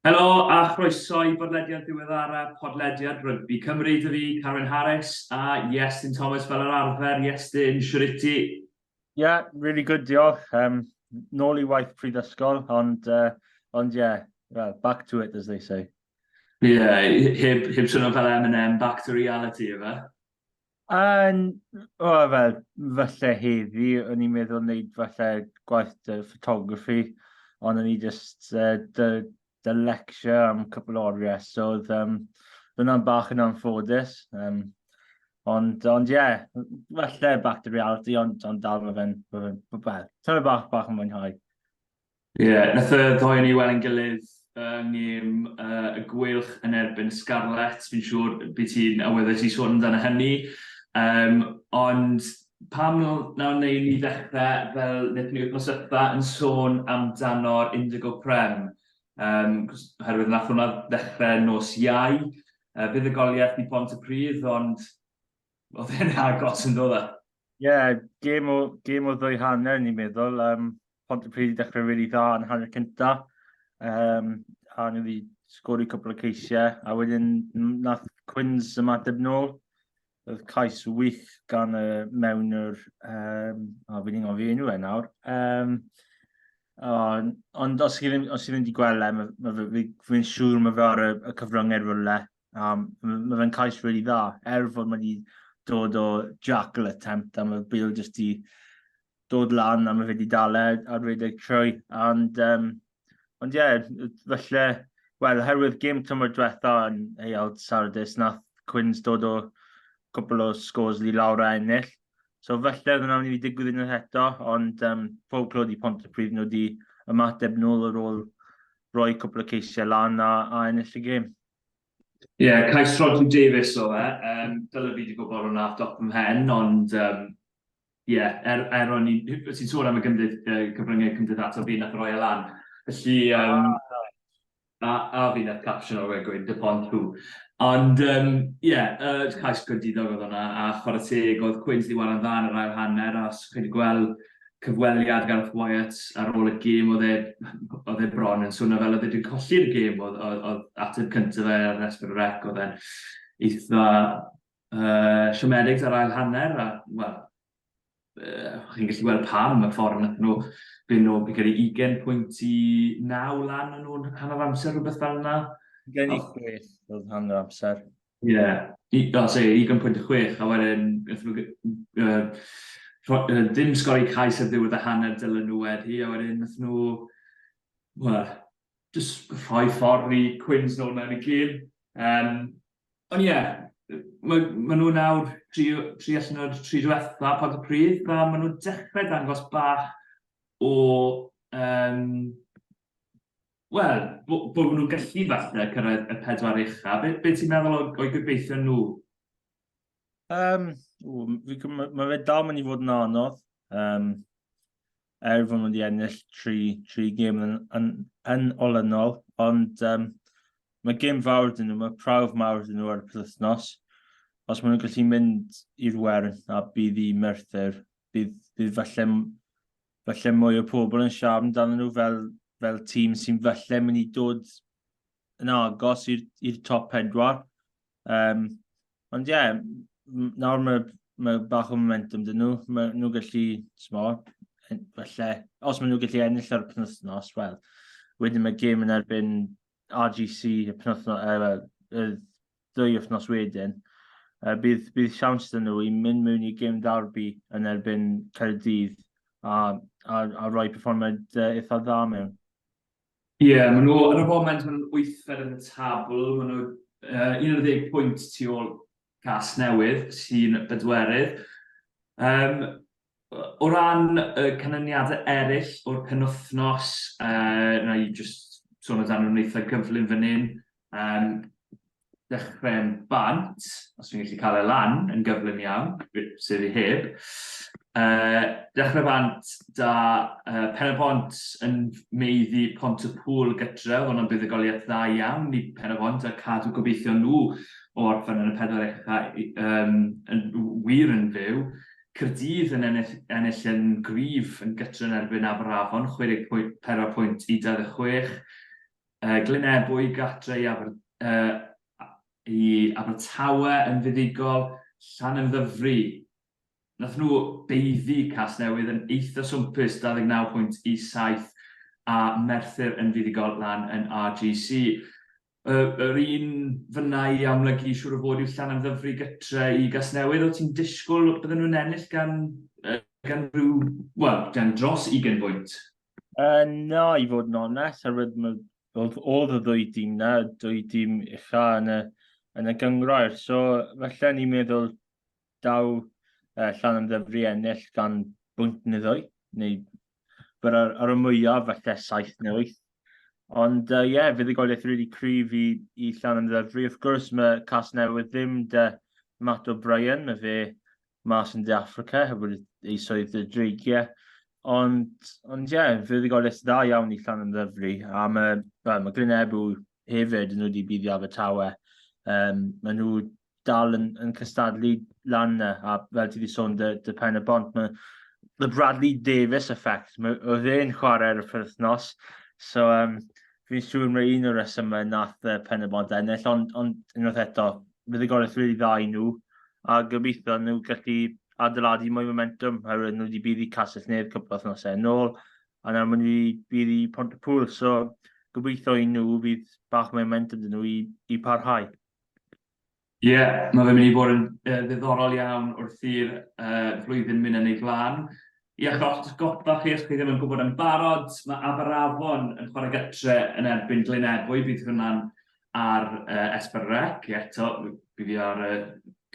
Helo a chroeso i bodlediad diweddara podlediad Rygbi Cymru, dw i, Carwyn Harris, a Iestyn Thomas fel yr arfer. Iestyn, shwt wyt ti? Ie, really good, diolch. Um, nôl i waith prifysgol, ond, uh, ond ie, yeah, well, back to it, as they say. Ie, yeah, heb, heb swnio fel Eminem, back to reality, efe? Yn, o, fel, falle heddi, o'n i'n meddwl wneud falle gwaith dy photography, ond o'n i jyst uh, dy, dy lecture am cwpl o oriau, so oedd um, hwnna'n bach yn anffodus. Um, ond, ond ie, yeah, falle back to reality, ond, ond dal mae fe'n, mae fe'n, wel, tyma bach, bach yn mwynhau. Ie, wnaeth y ddoi o ni weld ein gilydd yng ngêm y Gweilch yn erbyn y Scarlets, fi'n siŵr bydd ti'n awyddus i ti sôn amdano hynny. Yym, ond pam wnawn ni ddim ddechrau fel wnaethon ni wythnos ddiwetha' yn sôn amdano'r Indigo Prem? Yym, cos oherwydd wnaeth hwnna ddechrau nos Iau, yy fuddugoliaeth i Pontypridd, ond oedd e'n agos yn do fe? Ie, gêm o gêm o ddwy hanner ni'n meddwl, yym Pontypridd wedi dechrau rili really dda yn y hanner cynta, um, a nhw wedi sgori cwpl o ceisiau, a wedyn nath Cwins ymateb nôl, oedd cais wych gan y mewn yr, um, o, fi'n ingol fi enw e nawr, um, ond, ond os chi ddim, os chi ddim wedi gweld e, mae, mae, fi'n siŵr mae fe ar y, y cyfryngau rhywle, Um, mae fe'n cais rili really dda, er fod mae wedi dod o jackal attempt, a mae Bale jyst i dod lan, a mae wedi dal e ar redeg trwy. And, um, ond ie, yeah, felly, wel, herwydd gym tymor diwetha yn Heiald Sardis, nath Cwins dod o cwpl o scores li lawr a ennill. So felly, oedd yna'n mynd i digwydd unwaith eto, ond um, pob clod i pont y prif nhw wedi ymateb nôl ar ôl roi cwpl o ceisiau lan a, a ennill y gym. Ie, cais Rhodri Davies oedd e. Um, Dyla fi wedi gwybod hwnna off dop yn hen, ond um, ie, er, er o'n i'n... Ti'n sôn am y gymdyd, uh, cyfryngau cymdeithasol fi nath roi e lan. Felly, um, a, a fi nath caption o'r wegwyn, dy pont tu. Ond, ie, um, yeah, uh, cais gwendidog oedd hwnna, a chwarae teg, oedd Queens di waran dda yn yr ail hanner, a chi'n gweld cyfweliad gan Alf Wyatt ar ôl y gêm, oedd e, oedd e bron yn swnio fel oedd e wedi colli'r gêm, oedd, oedd, oedd ateb cyntaf fe ar Esper Rec, oedd e'n eitha uh, siomedig ar ail hanner, a, wel, uh, chi'n gallu gweld pam y ffordd nath nhw byn nhw, fi'n credu 20 pwynt i 9 lan yn nhw'n hanner amser, rhywbeth fel yna. Gen i chwech oedd hanner amser. Ie, i- fel se, ugain pwynt a chwech, a wedyn naethon nw g- yy rho- yy dim sgor eu cais ar ddiwedd y hanner dylen nhw wedi a wedyn nathon nhw wel jyst rhoi ffordd i Quins nôl mewn y gêm. Yym ond ie yy ma' ma' nhw nawr tri o- tri allan o'r tri dwetha Pontypridd a ma' nhw'n dechre dangos bach o yym Wel, bo- bod nhw'n gallu falle cyrraedd y pedwar ucha. Be, be ti'n meddwl o- o'i gobeithio nhw? Um, mae fe dal mynd i fod yn anodd. Um, er fod nhw wedi ennill tri, tri gêm yn, yn, yn olynol, ond um, mae gêm fawr dyn nhw, mae prawf mawr dyn nhw ar y penwythnos. Os maen nhw'n gallu mynd i'r wern a bydd i Merthyr, bydd, bydd falle falle mwy o pobl yn siarad amdano nhw fel, fel tîm sy'n falle mynd i dod yn agos i'r top pedwar. Um, ond ie, yeah, nawr mae, mae bach o momentum dyn nhw. Mae nhw gallu, smo, falle, os maen nhw gallu ennill ar y penwthnos, wel, wedyn mae gêm yn erbyn RGC y penwthnos, uh, y ddwy wythnos wedyn, uh, bydd, bydd siawns dyn nhw i mynd mewn i gym darbi yn erbyn Caerdydd a, a, a rhoi perfformiad uh, eitha dda mewn. Ie, yeah, maen nhw, yn y foment, maen nhw'n wythfed yn y tabl, maen nhw uh, 11 pwynt tu ôl cas newydd sy'n bedwerydd. Um, O ran y canlyniadau eraill o'r penwythnos, na i jyst sôn amdanyn nhw'n eitha gyflym fan hyn. Dechrau'n bant, os fi'n gallu cael e lan yn gyflym iawn, sef i heb. Dechrau bant 'da Pen-y-bont yn meuddy Pont-y-pŵl gytre, oedd hwnna'n buddugoliaeth dda iawn i Pen-y-bont a cadw gobeithion nhw o orffen yn y pedwar ucha yn wir yn fyw. Caerdydd yn ennill ennill yn gryf yn gytr yn erbyn Aberafon, 64 pwynt i 26. Uh, Glyn Ebwy gatre i, Aber, uh, i Abertawe yn fuddugol, Llan yn ddyfru. Nath nhw beiddi cas newydd yn eitha swmpus 29 pwynt i 7 a Merthyr yn fuddugol lan yn RGC. y, yr un fyna i amlygu siwr o fod yw Llan Ddyfri gytre i Gasnewydd. O ti'n disgwyl bydden nhw'n ennill gan, uh, gan rhyw, wel, gan dros 20 bwynt? Uh, na, i fod yn onest, herwydd oedd oedd y ddwy dîm na, dwy dîm ucha yn y, yn y gyngrair. So, felly ni'n meddwl Daw uh, llan yn ddyfru ennill gan bwynt neu ddwy, neu byr ar, ar y mwyaf falle saith neu wyth. Ond ie, uh, yeah, fydd y goliaeth rili really cryf i, i Llan yn Ddyfri. Wrth gwrs, mae cas newydd ddim de Matt O'Brien, mae fe mas yn De Africa, heb wedi ei swydd y dreigiau. Ond, ond ie, yeah, fydd y goliaeth dda iawn i Llan yn Ddyfri. A mae, well, mae Glyn Ebw hefyd yn wedi byddi Abertawe. Um, mae nhw dal yn, yn cystadlu lan yna, a fel ti wedi sôn, dy, dy pen y bont, mae the Bradley Davis effect, mae, oedd e'n chwarae ar y ffyrthnos, so um, fi'n siŵr mae un o'r resymau nath uh, pen y bont ennill, ond, on, unwaith eto, bydd y gorau rili dda i nhw, a gobeithio nhw gallu adeiladu mwy momentum, oherwydd nhw wedi bydd i Castell Nedd cwpl o thnosau yn ôl, a nawr maen nhw wedi bydd i Pont y Pŵl, so gobeithio i nhw bydd bach mwy momentum dyn nhw i, i parhau. Ie, mae fe'n mynd i fod yn yy ddiddorol iawn wrth i'r yy flwyddyn mynd yn ei flaen. I eich atgoffa chi, os chi ddim yn gwybod yn barod, mae Aberafon yn chwarae gytre yn erbyn Glyn Ebwy, bydd hwnna'n ar yy Esbern Rec, ie, to, bydd hi ar y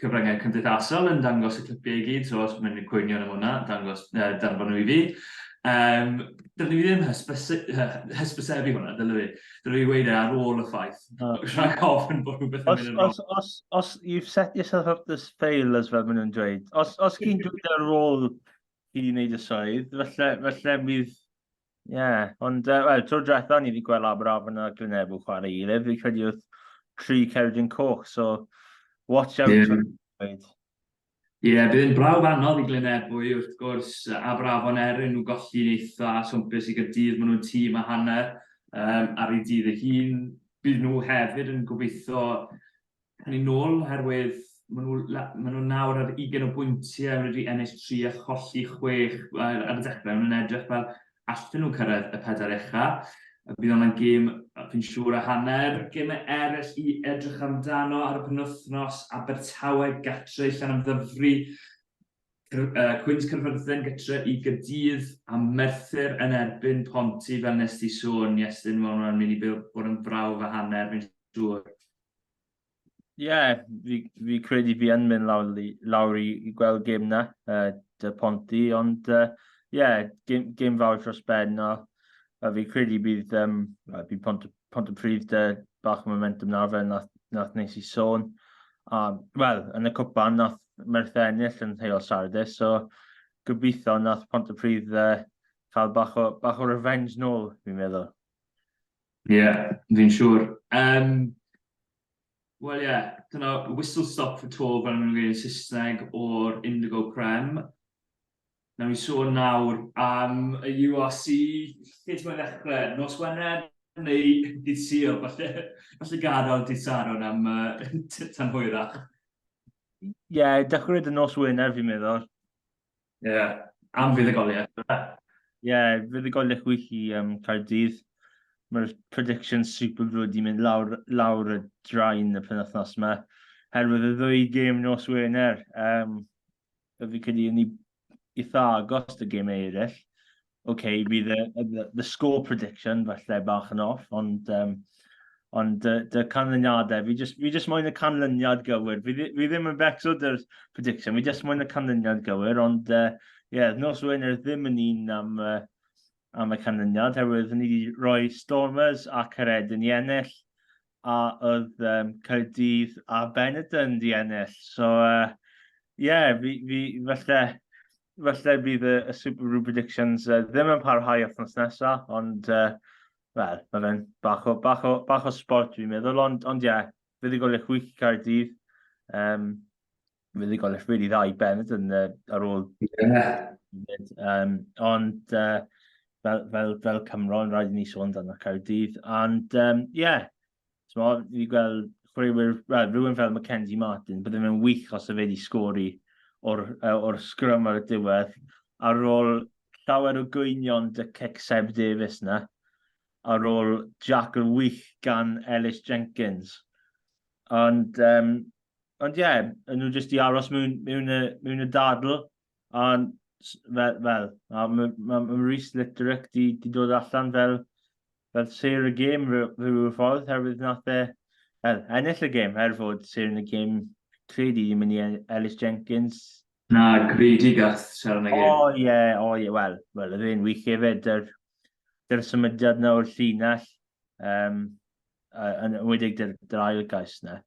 cyfryngau cymdeithasol yn dangos y clipiau i gyd, so os mae'n cwynion am hwnna, dangos yy danfon nhw i fi. Yym, dylwn i ddim hysbysu- hy- hysbysebu hwnna, dylwn i? Dwi'n ei weid e ar ôl y ffaith. Rhaid ofyn bod rhywbeth yn mynd yn wrong. Os, os, you've set yourself up this fail, as fel maen nhw'n dweud. Os, os chi'n dweud e ar ôl i ni wneud y swydd, felly, felly bydd... Ie, yeah. ond, uh, wel, tro diwetha ni wedi gweld Aberaf yna Glynebw chwarae i gilydd, fi credu oedd tri Ceredi'n Coch, so watch out. Yeah. Ie, bydd yn brawf anodd i Glyn Ebwy, wrth gwrs, Aberafon er yn nhw golli'n eitha swmpus i Gaerdydd, maen nhw'n tîm a hanner um, ar ei dydd ei hun. Bydd nhw hefyd yn gobeithio yn ei nôl, oherwydd maen nhw, maen nhw nawr ar 20 o bwyntiau, maen nhw wedi ennill 3 a cholli 6 ar, ar y dechrau, maen nhw'n edrych fel allen nhw cyrraedd y pedair ucha'. Bydd hwnna'n gêm fi'n siŵr a hanner. Gemau eraill i edrych amdano ar y penwythnos, Abertawe gatre i Llanymddyfri, Cwins Caerfyrddin gytre i Gaerdydd a Merthyr yn erbyn Ponty fel nes ti sôn Iestyn, ma' hwnna'n mynd i bod yn brawf a hanner fi'n siŵr. Ie, yeah, fi, fi credu fi yn mynd lawr, lawr i, i gweld gym na, uh, dy Ponti, ond ie, uh, yeah, gym, gym fawr dros ben, o, a fi credu bydd, um, bydd Pont, Pont y Pryd dy bach o momentum nawr fel nath, nath nes i sôn. A, wel, yn y cwpan nath Merthyr ennill yn heol Saturday, so gobeithio nath Pont y Pryd uh, cael bach o, bach o revenge nôl, fi'n meddwl. Ie, fi'n siŵr. Yym, wel ie, dyna whistle stop for tour fel maen nhw'n gweud yn Saesneg o'r Indigo Prem. Nawn ni sôn nawr am y URC, lle ti'n moyn ddechrau? Nos Wener neu dydd Sul? Falle, falle gadael dydd Sadwrn am uh, tan hwyrach. Ie, yeah, dechrau dy nos Wener fi'n meddwl. Ie, yeah. am fuddugoliaeth. Ie, yeah, fuddugoliaeth wych i um, Caerdydd. Mae'r prediction super brwyd wedi mynd lawr, lawr y draen y penwthnos yma. Herwydd y ddwy gêm nos Wener, um, y fi credu yn eitha agos y gêm eraill. OK, bydd y, y, y score prediction falle bach yn off, ond, um, ond dy, dy canlyniadau, fi just, fi just moyn y canlyniad gywir. Fi, fi ddim yn becso dy'r prediction, fi just moyn y canlyniad gywir, ond uh, yeah, nos Wener ddim yn un am, uh, am y canlyniad, herwydd ni wedi rhoi Stormers a Caredyn i ennill, a oedd um, Caerdydd a Benetton di ennill. So, uh, yeah, fi, fi, falle, falle bydd y, y Super Rugby Predictions uh, ddim yn parhau othnos nesaf, ond uh, wel, mae fe'n bach o, bach o, bach o sport dwi'n meddwl, ond, ond ie, yeah, fydd i golech wiki cael dydd, um, fydd i golech really dda i Bennett yn, uh, ar ôl. Yeah. Um, ond uh, fel, fel, fel Cymro, yn rhaid i ni sôn dan y cael dydd, ond ie, um, yeah, So, fi wedi gweld chwaraewyr, well, rhywun fel Mackenzie Martin, byddai fe'n wych os y fe wedi sgori o'r, or sgrym ar y diwedd, ar ôl llawer o gwynion dy cic Seb Davies na, ar ôl Jack yr wych gan Ellis Jenkins. Ond, um, ond ie, yeah, nhw jyst i aros mewn, mewn, y, mewn y dadl, Ond, fel, fel mae ma, ma Rhys Litterick di, di dod allan fel, fel sir y gêm rhyw, rhyw ffordd, herwydd nath e er, ennill y gêm, er fod sir yn y gêm credu i mynd i Ellis Jenkins. Na, gredu gath sir yn y gêm. O oh, ie, yeah, o oh, ie, yeah. wel, wel, yr un wych hefyd, dy'r, dy'r symudiad na o'r llinell, um, yn wedig dy'r, dy'r ail gais na.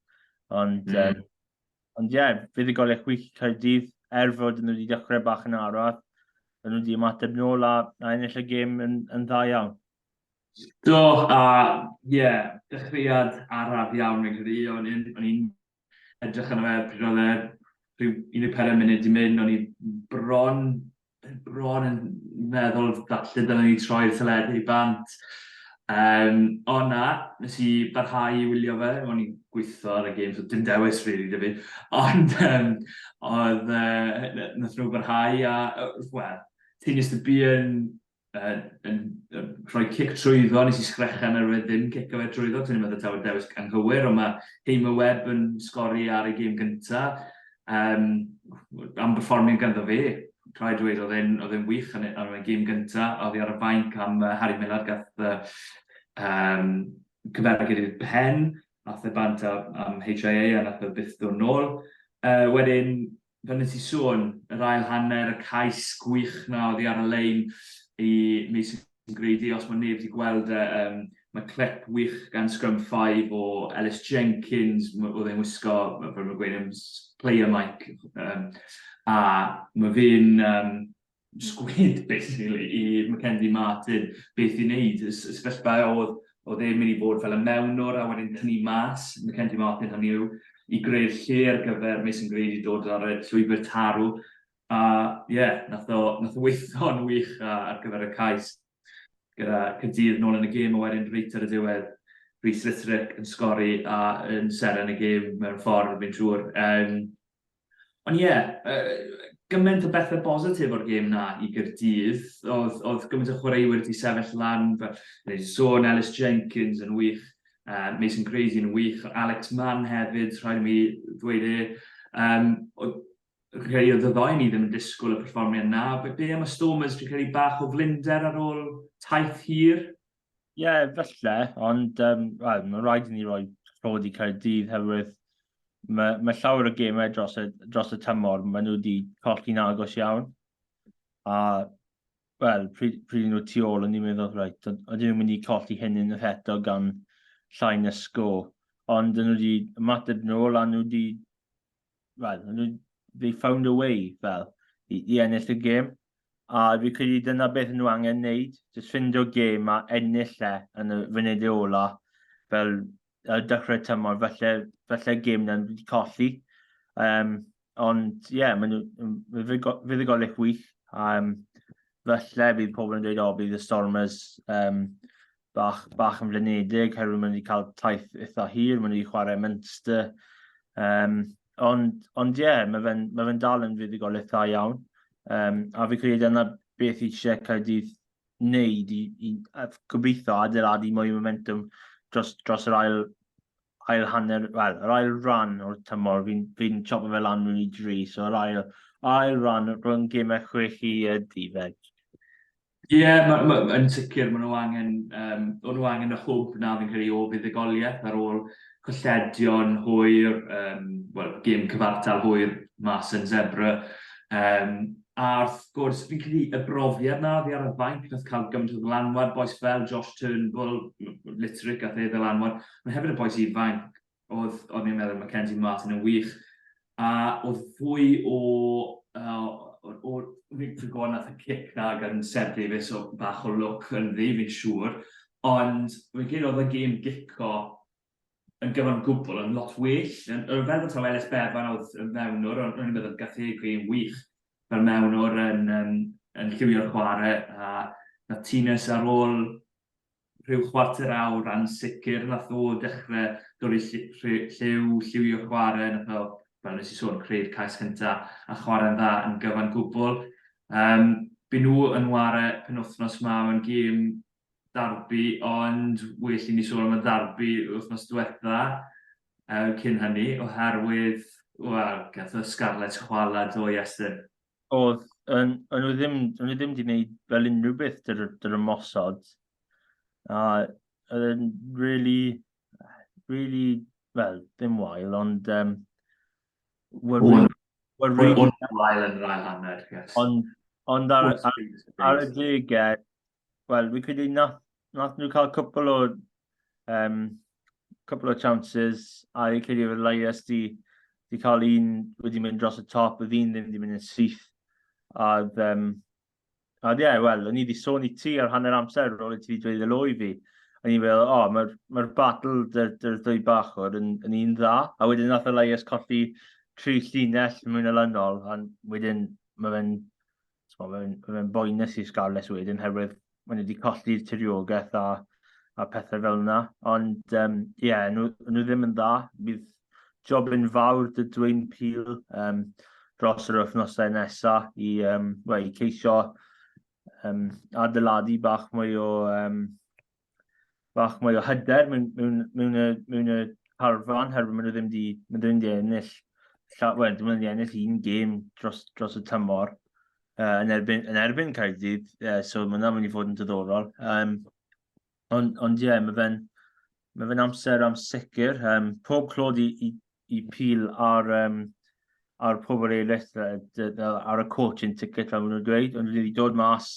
Ond, mm. um, Ond ie, yeah, fuddugoliaeth wych i Caerdydd, er fod nhw wedi dechrau bach yn arall, maen nhw wedi ymateb nôl a, a ennill y gêm yn, yn dda iawn. Do, a ie, yeah, dechreuad araf iawn fi'n credu, o'n i'n edrych yn y fe pryd oedd e rhyw 14 munud i mynd, o'n i bron bron yn meddwl falle dylen ni troi'r teledu i bant. Um, o na, nes i barhau i wylio fe, o'n i'n gweithio ar y gêm, so dim dewis rili really, fi. Ond um, oedd, uh, nath nhw barhau a, wel, ti'n just y byd yn uh, yn, uh, rhoi cic trwyddo, nes i sgrechen ar wedi ddim cic o fe trwyddo, ti'n meddwl taw y dewis anghywir, ond mae Heim y Web yn sgori ar ei gym gynta, um, am berfformio ganddo fe, rhaid dweud oedd e'n oedd e'n wych yn y gym gynta, oedd hi ar y fainc am uh, Harry Millard gath uh, um, cyfergyd i'r pen, a the bant am HIA a nath o byth dod nôl. Uh, wedyn, fel nes i sôn, yr ail hanner, y cais gwych na oedd hi ar y lein i Mason Grady, os mae neb wedi gweld e, um, mae clip wych gan Scrum 5 o Ellis Jenkins, oedd e'n wisgo, fel mae'n gweud, player mic, um, a mae fe'n um, sgwyd basically i Mackenzie Martin beth i wneud. Y sefyllfa oedd, oedd e'n mynd i fod fel y mewnwr a wedyn tynnu mas Mackenzie Martin hynny yw i greu'r lle ar gyfer Mason Grady dod ar y llwybr tarw. A ie, yeah, nath o, nath o weithio'n wych ar gyfer y cais gyda Cydydd nôl yn y gêm a wedyn reit ar y diwedd Rhys Litterick yn sgori a yn seren y gêm mewn ffordd fi'n siŵr. Um, Ond ie, yeah, uh, gymaint o bethau bositif o'r gêm na i Gyrdydd. Oedd, oedd gymaint o chwaraewyr wedi sefyll lan, fel wedi sôn Ellis Jenkins yn wych, uh, Mason Crazy yn wych, Alex Mann hefyd, rhaid mi ddweud e. Um, oedd, rhai oedd y ddoi ni ddim yn disgwyl y perfformiad na. Be am y Stormers, dwi'n credu bach o flinder ar ôl taith hir? Ie, yeah, felly, ond um, well, mae'n rhaid i ni roi rhod i Caerdydd hefyd. Mae, mae llawer o gemau dros y, dros y tymor, mae nhw wedi colli'n agos iawn. A, wel, pryd, pryd nhw tu ôl, o'n i'n meddwl, rhaid, o'n i'n mynd i colli hyn yn yr eto gan llai na sgo. Ond nhw wedi ymateb nôl a nhw wedi well, nhw, they found a way, fel, i, i ennill y gêm. A fi credu dyna beth nhw angen wneud, jyst ffindio gêm a ennill e yn y funud ola, fel y dechrau tymor, felly, felly gêm na'n wedi colli. Um, ond, ie, yeah, mae'n fuddugolic wych. Um, felly, bydd pobl yn dweud, o, bydd y Stormers um, bach, bach yn flinedig, herwydd maen nhw wedi cael taith eitha hir, maen nhw wedi chwarae Munster. Um, ond, ond ie, yeah, mae fe'n ma fe dal yn fuddugol eitha iawn. Um, a fi credu yna beth i eisiau Caerdydd wneud i, i gobeithio adeiladu mwy o momentum dros, dros yr ail, ail hanner, wel, yr ail ran o'r tymor, fi'n fi, n, chopo fe lan rwy'n i dri, so yr ail, ail ran rhwng gemau chwech i y difeg. Ie, yeah, ma, ma, yn sicr, maen nhw angen, um, o'n nhw angen y hwb na fi'n credu o fuddugoliaeth ar ôl colledion hwyr, um, well, gym cyfartal hwyr mas yn Zebra. Um, a wrth gwrs, fi'n credu y brofiad na fi ar y fainc nath cael gymaint o ddylanwad, boes fel Josh Turnbull, Litric a the ddylanwad, mae hefyd y boes ifanc, oedd, o'n i'n meddwl, Mackenzie Martin yn wych. A oedd fwy o... Uh, o fi'n gwybod nath y cic na gan Seb Davies o bach o look yn ddi, fi'n siŵr. Ond fi'n credu oedd y gêm gico yn gyfan gwbl yn lot well. Yn, fel bod taw Ellis Bevan oedd yn mewnwr, ond rwy'n meddwl gath ei gêm wych fel mewnwr yn, yn, yn lliwio'r chwarae. A na Tines ar ôl rhyw chwarter awr yn sicr nath o dechre dorri lliw, lliwio chware, nath o, fel nes i sôn, creu'r cais cynta a chware'n dda yn gyfan gwbwl. Yym by' nhw yn ware penwthnos ma mewn gêm darbi ond well i ni sôn am y ddarbi wythnos dwetha yy cyn hynny oherwydd wel gath y Scarlets chwala do Iestyn? Oedd, o'n nhw ddim, o'n nhw ddim wedi gwneud fel unrhyw beth dy'r, dy'r ymosod. A oedd e'n really, really, wel, ddim wael, ond... Um, were, were, were really, wael yn rhaid hanner, yes. Ond, ond ar, ar, ar y degau, wel, fi'n credu nath, nath nhw cael cwpl o, um, cwpl o chances, a fi'n credu fod Elias di, di cael un wedi mynd dros y top, oedd un ddim wedi mynd yn syth. A, um, a ie, yeah, wel, o'n i wedi sôn i ti ar hanner amser ar ôl i ti wedi dweud y loi fi. O'n i'n meddwl, o, oh, mae'r ma battle dy'r dy, dy ddwy bachwr yn, yn un dda. A wedyn nath Elias colli tri llinell mwy na lynol, a wedyn mae fe'n So, fe'n fe boenus i Scarlets wedyn, herwydd maen nhw wedi colli'r tiriogaeth a, a pethau fel yna. Ond, ie, um, yeah, nhw, nhw ddim yn dda. Bydd job yn fawr dy dweyn pil um, dros yr wythnosau nesaf i, um, well, i ceisio um, adeiladu bach mwy o um, bach mwy o hyder mewn, mewn, mewn, y, mewn y carfan, herwydd maen nhw ddim wedi, maen nhw wedi ennill, llaw, well, maen nhw wedi ennill un gêm dros, dros y tymor uh, yn erbyn, yn erbyn Caerdydd, uh, so mae hwnna'n mynd i fod yn diddorol. Um, ond, ond ie, yeah, mae fe'n mae fe'n amser am sicr. Um, pob clod i, i, i pil ar, um, ar pobl eraill ar y court yn ticket fel maen nhw'n dweud, ond wedi dod mas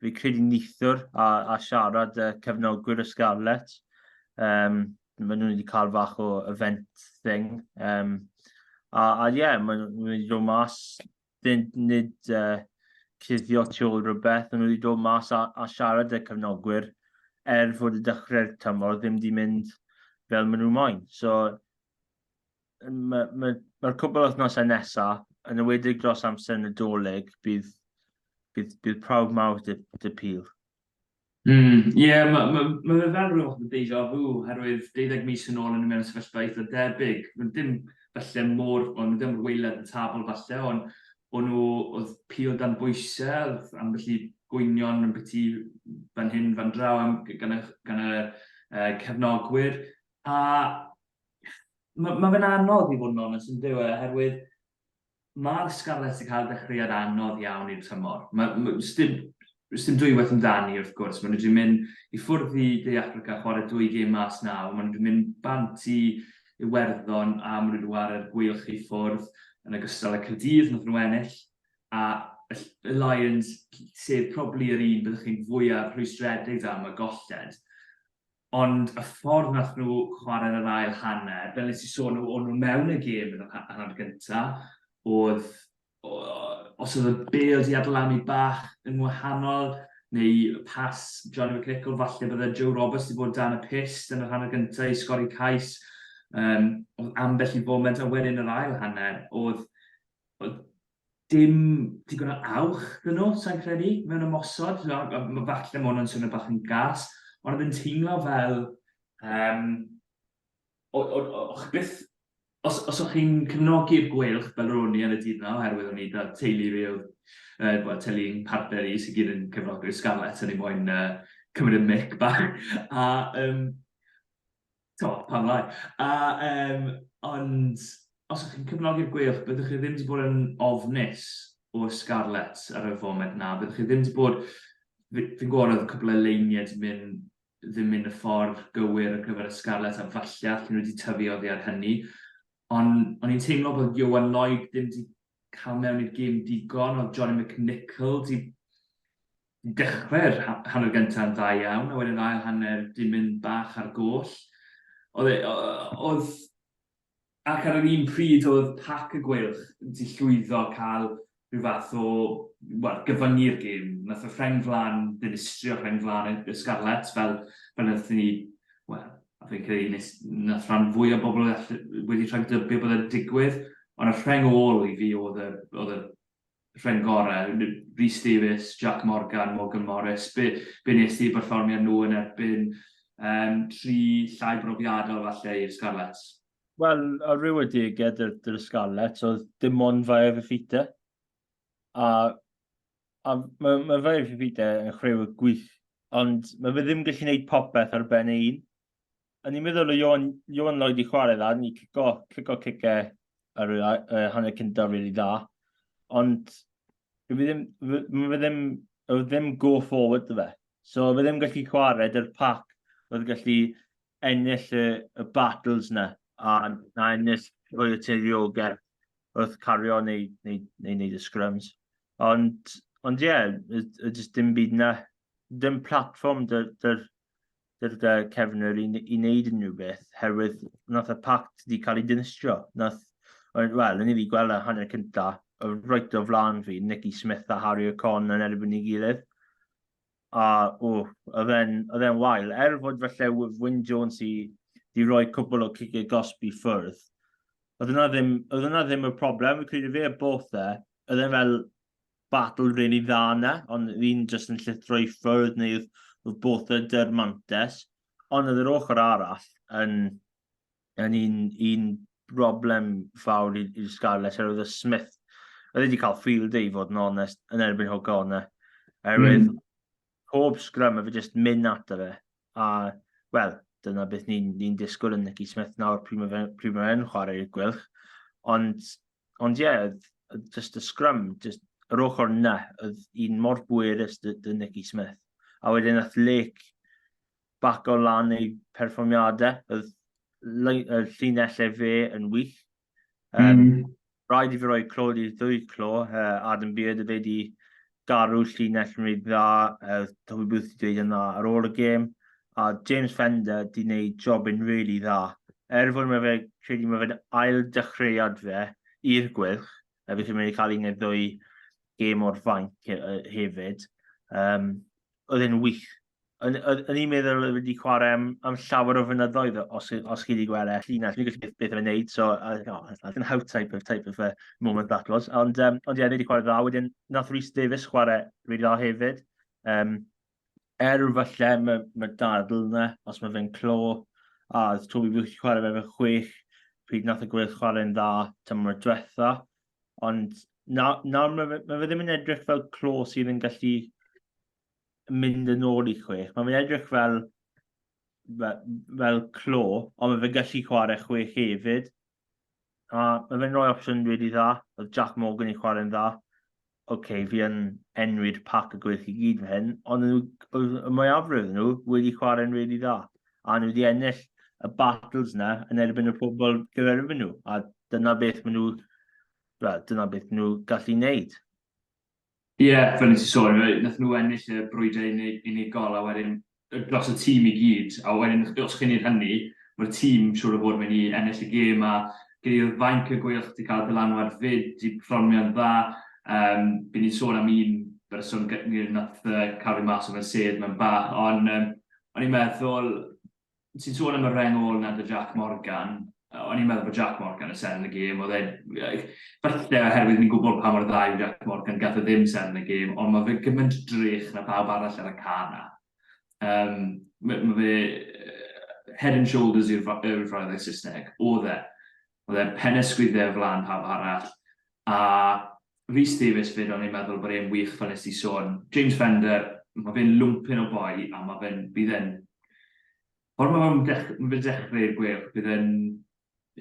fi credu nithwr a, a siarad y cefnogwyr y Scarlet. Um, maen nhw wedi cael fach o event thing. Um, a, a ie, yeah, maen nhw wedi dod mas fynd nid uh, cuddio tu ôl rhywbeth, ond wedi dod mas a, a siarad y cyfnogwyr er fod y dechrau'r tymor ddim wedi mynd fel maen nhw moyn. So, mae'r ma, ma cwbl wythnosau nesaf, yn y wedig dros amser yn y doleg, bydd, bydd, bydd prawf mawr dy, dy pil. Mm, ie, yeah, mae ma, ma fe fel rhywbeth fath o deja vu, herwydd 12 mis yn ôl yn y mewn sefyllfa eitha debyg. Dim falle mor, o'n nhw ddim weilad y tabl falle, ond o'n nhw, oedd pil dan bwysau, oedd ambell i gwynion yn byti fan hyn, fan draw am, gan, y, gan y uh, cefnogwyr. A mae ma fe'n anodd i fod yn onest yn dyw e, herwydd Mae'r Scarlets 'di cael dechreuad anodd iawn i'r tymor. Sdim dwywaith amdani, wrth gwrs. Maen nhw 'di mynd i ffwrdd i De Affrica, chwarae dwy gêm mas 'na, ond maen nhw 'di mynd bant i Iwerddon a maen nhw 'di chwarae'r Gweilch i ffwrdd, yn ogystal â Caerdydd, wnaethon nhw ennill. A y Lions, sef probably yr un byddwch chi'n fwyaf rhwystredig am, y golled. Ond y ffordd wnaeth nhw chwarae'r yr ail hanner, fel nes i sôn o- o'n nhw mewn y gêm yn yr ha- hanner gynta, o'dd o- os o'dd y bêl 'di adlanu bach yn wahanol, neu pas Johnny McNicholl falle bydde Joe Roberts 'di bod dan y pyst yn yr hanner gynta i sgori cais. Yym o'dd ambell i foment a wedyn yr ail hanner o'dd o'dd dim digon o awch dyn nhw, sa'n credu, mewn ymosod. Mae falle mae hwnna'n swnio bach yn gas, ond oedd yn teimlo fel... Um, o'ch byth... Os, os o'ch chi'n cefnogi'r gweilch fel ro'n i ar y dydd yna, oherwydd o'n i da teulu fi oedd, uh, well, teulu yn partner i sy'n gyd yn cefnogi'r Scarlets, o'n i moyn uh, cymryd y mic bach. A um, Do, pam lai. A, um, ond, os ydych chi'n cyfnogi'r gweilch, byddwch chi ddim wedi bod yn ofnus o'r Scarlets ar y foment na. Byddwch chi ddim wedi bod... Fi'n gwybod oedd y cwbl o leiniau wedi mynd ddim mynd y ffordd gywir ar gyfer y Scarlets a falle allan nhw wedi tyfu oddi ar hynny. Ond o'n i'n teimlo bod Ioan Lloyd ddim wedi cael mewn i'r gêm digon, ond Johnny McNicholl di dechrau'r hanner gyntaf yn dda iawn, a wedyn ail hanner di mynd bach ar goll. Oedd, e, oedd ac ar yr un pryd oedd pac y gweilch di llwyddo cael rhyw fath o well, gyfyngu'r gêm. Nath y rheng flan ddinistrio rheng flan y Scarlets fel, fel nath ni well, a fi'n credu nes, nes rhan fwy o bobl wedi rhaid dybio bod e'n digwydd, ond y rheng ôl i fi oedd y, oedd y rheng gorau, Rhys Davies, Jack Morgan, Morgan Morris, be, be nes ti berfformiad nhw yn erbyn um, tri llai brofiadol falle i'r Scarlets? Wel, a rhyw y diged yr, yr Scarlets oedd dim ond fae fe ffita. A, a mae, mae fe fi fi de yn chrew y gwych, ond mae fe ddim gallu gwneud popeth ar ben ei un. O'n i'n meddwl o Ion, Ion Lloyd i chwarae dda, ni cico, cico cice ar y uh, hanner cyntaf rili really dda. Ond fe ddim, fe, fe ddim, fe ddim go forward dy fe. So fe ddim gallu chwarae dy'r pac oedd gallu ennill y y battles na a na ennill rhoi y teiriogaeth wrth cario neu neu neu neud y scrums ond ond ie y y jyst dim byd na dim platfform dy'r dy'r dy'r dy cefnwyr i i neud unrhyw beth herwydd nath y pact wedi ca'l ei dinistrio nath wel o'n i wedi gweld y hanner cynta o reit o flan fi Nicky Smith a Harry O'Con yn erbyn ei gilydd A, o, oedd e'n wael. Er fod falle Wyn Jones i di roi cwbl o cigau gosb i ffwrdd, oedd yna ddim, oedd yna ddim y problem. Fi'n credu fe a Botha, oedd e'n fel battle really dda yna, ond un jyst yn llithro i ffwrdd neu oedd Botha dy'r mantes. Ond oedd yr ochr arall yn yn un, un broblem fawr i'r Scarlets, er oedd y Smith, oedd wedi cael field day i fod yn onest, yn erbyn hwg o'n e. Erwydd, mm. pob sgrym, efe jyst mynd at fe. A, wel, dyna beth ni'n ni, disgwyl yn Nicky Smith nawr pryd mae fe'n fe yn chwarae i'r gwylch. Ond, ond ie, yeah, jyst y sgrym, jyst yr ochr yna, oedd un mor bwerus dy, dy Nicky Smith. A wedyn, ath Lake baco lan ei perfformiadau. Oedd y llinellau fe yn wych. Um, mm. Rhaid i fi roi clod i'r ddwy clo, uh, Adam Beard y fe di garw llinell yn rhaid dda, uh, Toby Booth wedi dweud yna ar ôl y gêm, a James Fender di wneud job yn really dda. Er fod mae fe, credu mae fe'n ail dechreuad fe i'r gwylch, a felly mae'n cael un neu ddwy gêm o'r fainc hefyd. Um, oedd e'n wych. O'n i'n meddwl oedd wedi chwarae am, am llawer o fynyddoedd os, os chi wedi gweld e. Llinell, fi'n gallu beth o'n wneud, so uh, oh, I can how type of, type of uh, moment that was. Ond, um, ond ie, yeah, wedi chwarae dda. Wedyn, nath Rhys Davies chwarae rydw dda hefyd. Um, er falle mae ma dadl yna, os mae fe'n clo, a Toby wedi chwarae fe fe chwech, pryd nath y gweill chwarae'n dda tymor diwetha. Ond na, na mae fe, ma fe ddim yn edrych fel clo sydd yn gallu mynd yn ôl i chwech. Mae fe'n edrych fel, fel, fel clo, ond mae fe'n gallu chwarae chwech hefyd. A mae fe'n rhoi opsiwn wedi dda. Oedd Jack Morgan i chwarae'n dda. Oce, okay, fi yn enwyd pac y gwych i gyd fe hyn, ond y mwyafrif nhw wedi chwarae'n rili dda. a nhw wedi ennill y battles yna yn erbyn y pobl gyferfyn nhw, a dyna beth maen nhw, well, dyna beth maen nhw gallu wneud. Ie, yeah, fel nes i sôn, nath nhw ennill y brwydau unigol, a wedyn dros y tîm i gyd, a wedyn os chi'n neud hynny, mae'r tîm siwr o fod mynd i ennill y gêm, a gyda i'r fainc y gweilch wedi cael dylanwad fyd, di perfformio'n dda, um, byd ni'n sôn am un berson gyda nath uh, cael ei mas o fe'n sedd mewn bach, ond um, o'n i'n meddwl, ti'n sôn am y reng ôl na dy Jac Morgan, o'n i'n meddwl bod Jac Morgan yn seren y gêm, oedd e, falle oherwydd ni'n gwybod pa mor dda yw Jac Morgan, gath o e ddim seren y gêm, ond mae fe gymaint drych na pawb arall ar y car na. Um, mae, mae fe head and shoulders yw'r yw'r frawddeg Saesneg, oedd e. oedd e'n penesgwydde o flan pawb arall, a Rhys Davies 'fyd o'n i'n meddwl bod e'n wych fel nes ti sôn. James Fender, ma' fe'n lwmpyn o boi a ma' fe'n, bydd e'n, ffordd ma' fe'n dech- ma' fe'n dechreu'r gwêl, bydd e'n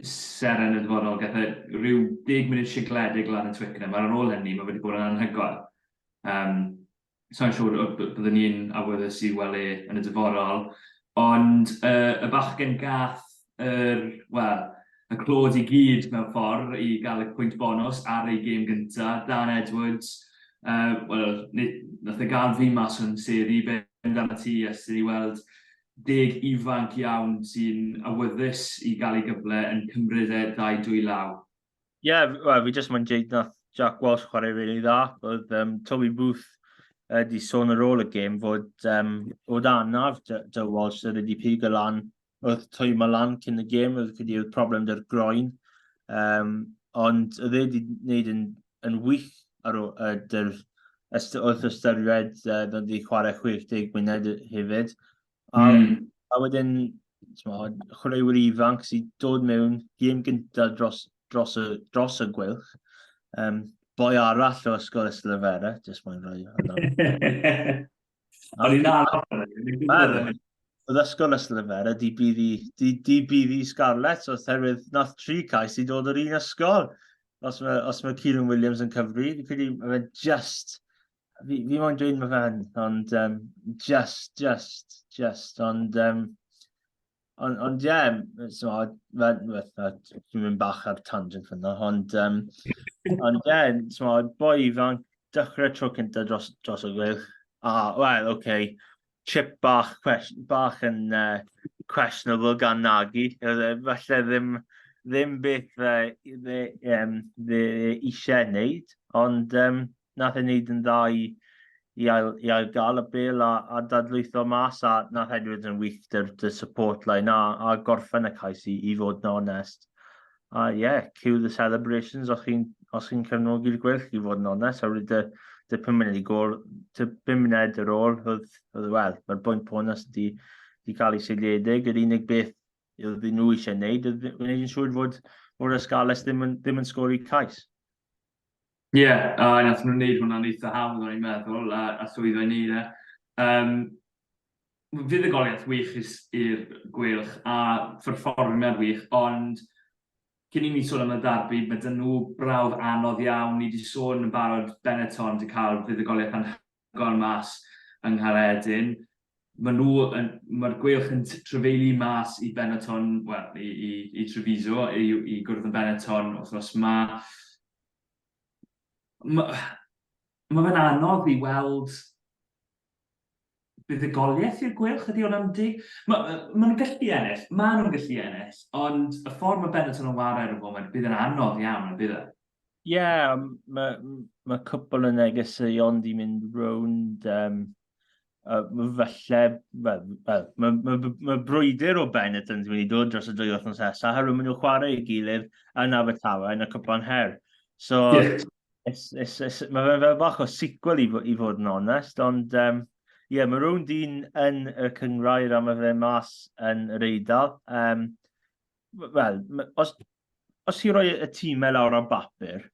seren yn y dyfodol, gath e ryw deg munud sigledig lan yn Twickenham, a'r ar ôl hynny ma' fe 'di bod yn anhygoel. Yym. sa i'n siŵr y by- byddwn ni'n awyddus i weld e yn y dyfodol, ond y, y bachgen gath yr, wel, y clod i gyd mewn ffordd i gael y pwynt bonws ar ei gêm gynta, Dan Edwards, uh, wel, nath e gael fi mas o'n sedd i ben dan y tŷ ers i ni weld deg ifanc iawn sy'n awyddus i gael ei gyfle yn cymryd e ddau dwy law. Ie, yeah, well, fi jyst mae'n dweud na Jack Walsh chwarae rili really dda. Oedd um, Toby Booth wedi uh, sôn ar ôl y gêm fod um, o dan arf Joe Walsh oedd wedi pig y lan oedd twy ma lan cyn y gêm oedd wedi oedd problem dy'r groen. Um, ond oedd wedi wneud yn, yn wych ar ôl uh, dy'r wrth ystyried uh, oedd wedi chwarae 60 munud hefyd. A, mm. a wedyn, chwaraewyr ifanc sy'n dod mewn gêm gyntaf dros, dros, y, dros y gwylch. Um, boi arall o ysgol Yslyfera, jyst mae'n rhoi hwnna. O'n i'n arall. Oedd ysgol Yslyfera, di bydd i, di, di bydd i Scarlett, so oherwydd nath tri cais i dod o'r un ysgol. Os mae, os mae Kieran Williams yn cyfri, fi'n credu mae'n just fi, fi moyn dweud mae fan, ond um, just, just, just, ond... Um, ond, ond ie, yeah, so, fan, dwi'n mynd bach ar tangent fyna, ond, um, ond ie, yeah, so, boi fan, dechrau tro cyntaf dros, dros y gwych, a, wel, oce, okay, chip bach, cwestiwn bach yn uh, questionable gan Nagy. E, falle ddim, ddim beth fe, fe, um, fe eisiau wneud, ond um, nath e wneud yn dda i, i, ail, i ail gael y bel a, a dadlwytho mas a nath Edwards yn wych dy'r dy support line a, a gorffen y cais i, i fod yn onest. A ie, yeah, cue the celebrations os chi'n os chi'n cefnogi'r gwell i fod yn onest, a wedi dy, dy pum munud i gol, dy pum munud ar ôl, oedd, oedd wel, mae'r bwynt bonus wedi, wedi cael ei seiliedig, yr unig beth oedd nhw eisiau gwneud, oedd gwneud yn siŵr fod o'r ysgalus ddim yn, ddim yn sgori cais. Ie, a wnaethon nhw wneud hwnna'n eitha hawdd o'n i'n meddwl, a a llwyddo i wneud e. Yym, fuddugoliaeth wych i'r s- i'r Gweilch a pherfformiad wych, ond cyn i ni sôn am y ddarbi, ma' 'da nhw brawf anodd iawn. Ni 'di sôn yn barod, Benetton 'di cael fuddugoliaeth anhygoel gorn mas yng Nghaeredin. Mae nhw yn... mae'r Gweilch yn trafeilu mas i Benetton, wel, i, i, i Treviso, i, i gwrdd yn Benetton wythnos ma. Mae, mae fe'n anodd i weld buddugoliaeth i'r Gweilch, ydy o'n amdi? Mae, mae nhw'n gallu ennill, mae nhw'n gallu ennill, ond y ffordd mae Benetton yn wario ar y foment, bydd yn anodd iawn, y bydd e? Ie, m- ma' m- ma' cwpwl o negeseuon 'di mynd rownd yym yy m- falle wel wel ma' ma' b- ma' brwydr o Benetton's wedi dod dros y dwy wythnos nesa oherwydd ma' nw'n chware ei gilydd yn Abertawe yn y cwpla'n her. So Ie. it's it's it's ma' fe'n fel bach o sequel i fo- i fod yn onest ond yym ie ma' rownd un yn y cynghrair a ma' fe mas yn yr Eidal. Yym wel, os, os ti roi y tîm e lawr ar bapur,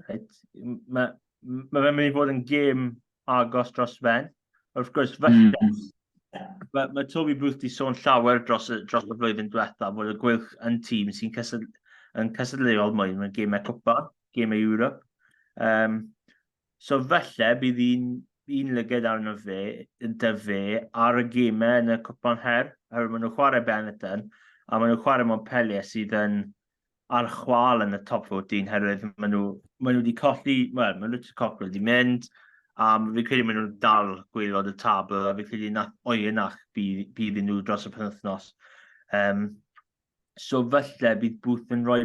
right, mae ma fe'n mynd i fod yn gêm agos dros fen. Wrth gwrs, falle, mm. mae ma Toby Booth di sôn llawer dros, dros y flwyddyn diwetha, bod y gwylch yn tîm sy'n cysyd, yn cysylltuol mwy mewn gêmau cwpan, gêmau Europe. Um, So falle bydd un, un lyged arno fe, dy fe, ar y gemau yn y cwpan her, oherwydd maen nhw'n chwarae Benetton, a maen nhw'n chwarae Montpellier sydd yn ar chwal yn y top 14, herwydd maen nhw, maen nhw wedi colli, wel, maen nhw wedi colli wedi mynd, a um, fi credu maen nhw'n dal gwylod y tabl, a fi credu na oenach bydd, bydd nhw dros y penwthnos. Um, so falle bydd Booth yn rhoi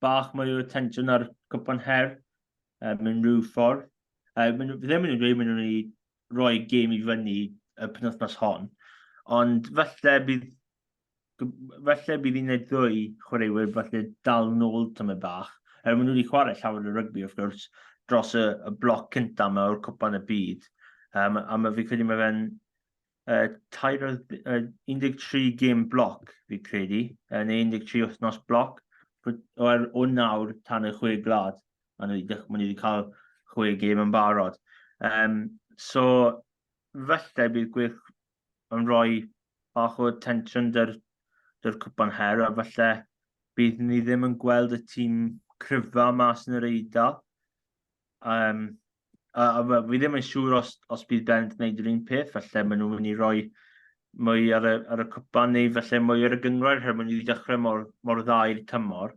bach mwy o attention ar cwpan her uh, mewn rhyw ffordd. Uh, maen, fi ddim yn dweud maen nhw'n ei roi gêm i fyny y penwthnos hon, ond falle bydd falle bydd un neu ddwy chwaraewyr falle dal yn ôl tymau bach. Er maen nhw wedi chwarae llawer o rygbi, wrth gwrs, dros y, y bloc cyntaf yma o'r cwpan y byd. Um, a mae fi credu mae fe'n uh, 13 gym bloc, fi credu, yn 13 wythnos bloc, o'r o nawr tan y chwe glad, a ni wedi cael chwe gym yn barod. Um, so, felly bydd gwych yn rhoi bach o tensiwn dy'r, dy'r cwpan her, a felly bydd ni ddim yn gweld y tîm cryfa mas yn yr eidl. Um, a, a, a fi ddim yn siŵr os, os bydd Bent yn gwneud yr un peth, felly maen nhw'n mynd i roi mwy ar y, ar y cwpan neu felly mwy ar y gyngor, rhaid maen nhw wedi dechrau mor, mor dda i'r tymor.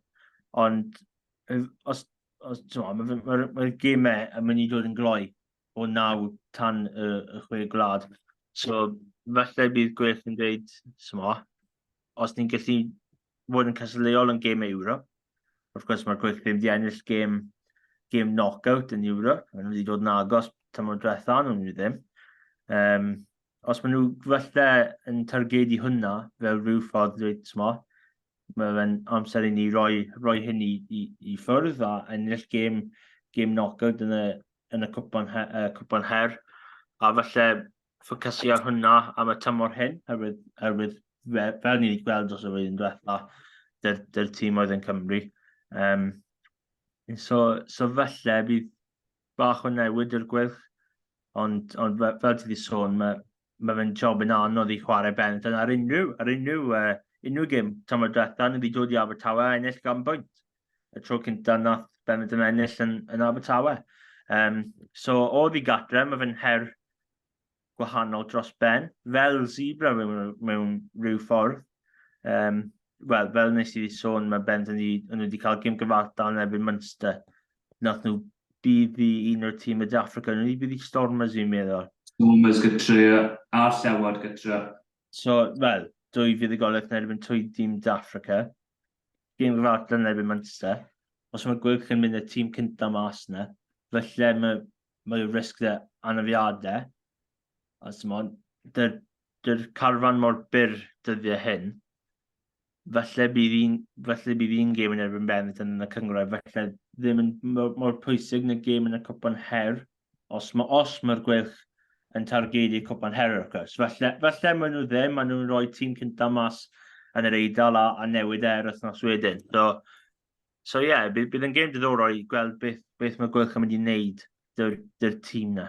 Ond os, os mae'r ma, ma, ma gemau yn mynd i dod yn gloi o naw tan y, y chwe gwlad. So, felly bydd gwell yn dweud, sma, os ni'n gallu fod yn cysylltuol yn gêm Ewrop, Wrth gwrs, mae'r gweithlu wedi ennill gêm, gêm knockout yn Europe. Maen nhw wedi dod yn agos tymor diwetha, nhw'n nhw ddim. Um, os maen nhw falle yn targedu hwnna fel rhyw ffordd dweud, smo, mae fe'n amser i ni roi, roi hyn i, i, i ffwrdd a ennill gêm, gêm knockout yn y, yn y cwpan, her, uh, cwpan her. A falle ffocysu ar hwnna am y tymor hyn, herwydd, herwydd fe, fel ni wedi gweld dros y flwyddyn diwetha, dy'r, dyr tîm oedd yn Cymru. Um, so, so felly, bydd bach o newid i'r gwyrch, ond, ond fel ti wedi sôn, mae, mae fe'n job yn anodd i chwarae bent yn ar unrhyw, ar unrhyw, uh, unrhyw gym tymor diwetha, ni wedi dod i Abertawe a ennill gan bwynt. y tro cynta nath Benetton ennill yn, yn Abertawe. Um, so, o ddi gatre, mae fe'n her gwahanol dros ben, fel zebra mewn, mewn rhyw ffordd. Um, Wel, fel nes i sôn, mae Benetton wedi cael gym gyfartal yn erbyn Munster. Nath nhw bydd i un o'r tîm y De Africa, nhw wedi bydd i Stormers i'n meddwl. Stormers gytre, a'r llewod gytre. So, wel, dwy fuddugoliaeth yn erbyn twy dîm Dafrica. Gêm gyfartal yn erbyn Manchester. Os mae Gwylch yn mynd y tîm cyntaf mas yna, felly mae, mae risg dda anafiadau. A symon, dy'r dy carfan mor byr dyddiau hyn. falle bydd un, falle bydd un gêm yn erbyn Benetton yn y cyngrau, falle ddim yn mor, mor pwysig na gêm yn y cwpan her, os mae os mae'r gwelch yn targedu cwpan her o'r cwrs. Falle, falle maen nhw ddim, maen nhw'n rhoi tîm cyntaf mas yn yr eidl a, a newid e'r wythnos wedyn. So, so ie, yeah, bydd, bydd yn gêm diddorol i gweld beth, beth mae gwelch yn mynd i wneud dy'r, dyr tîm na.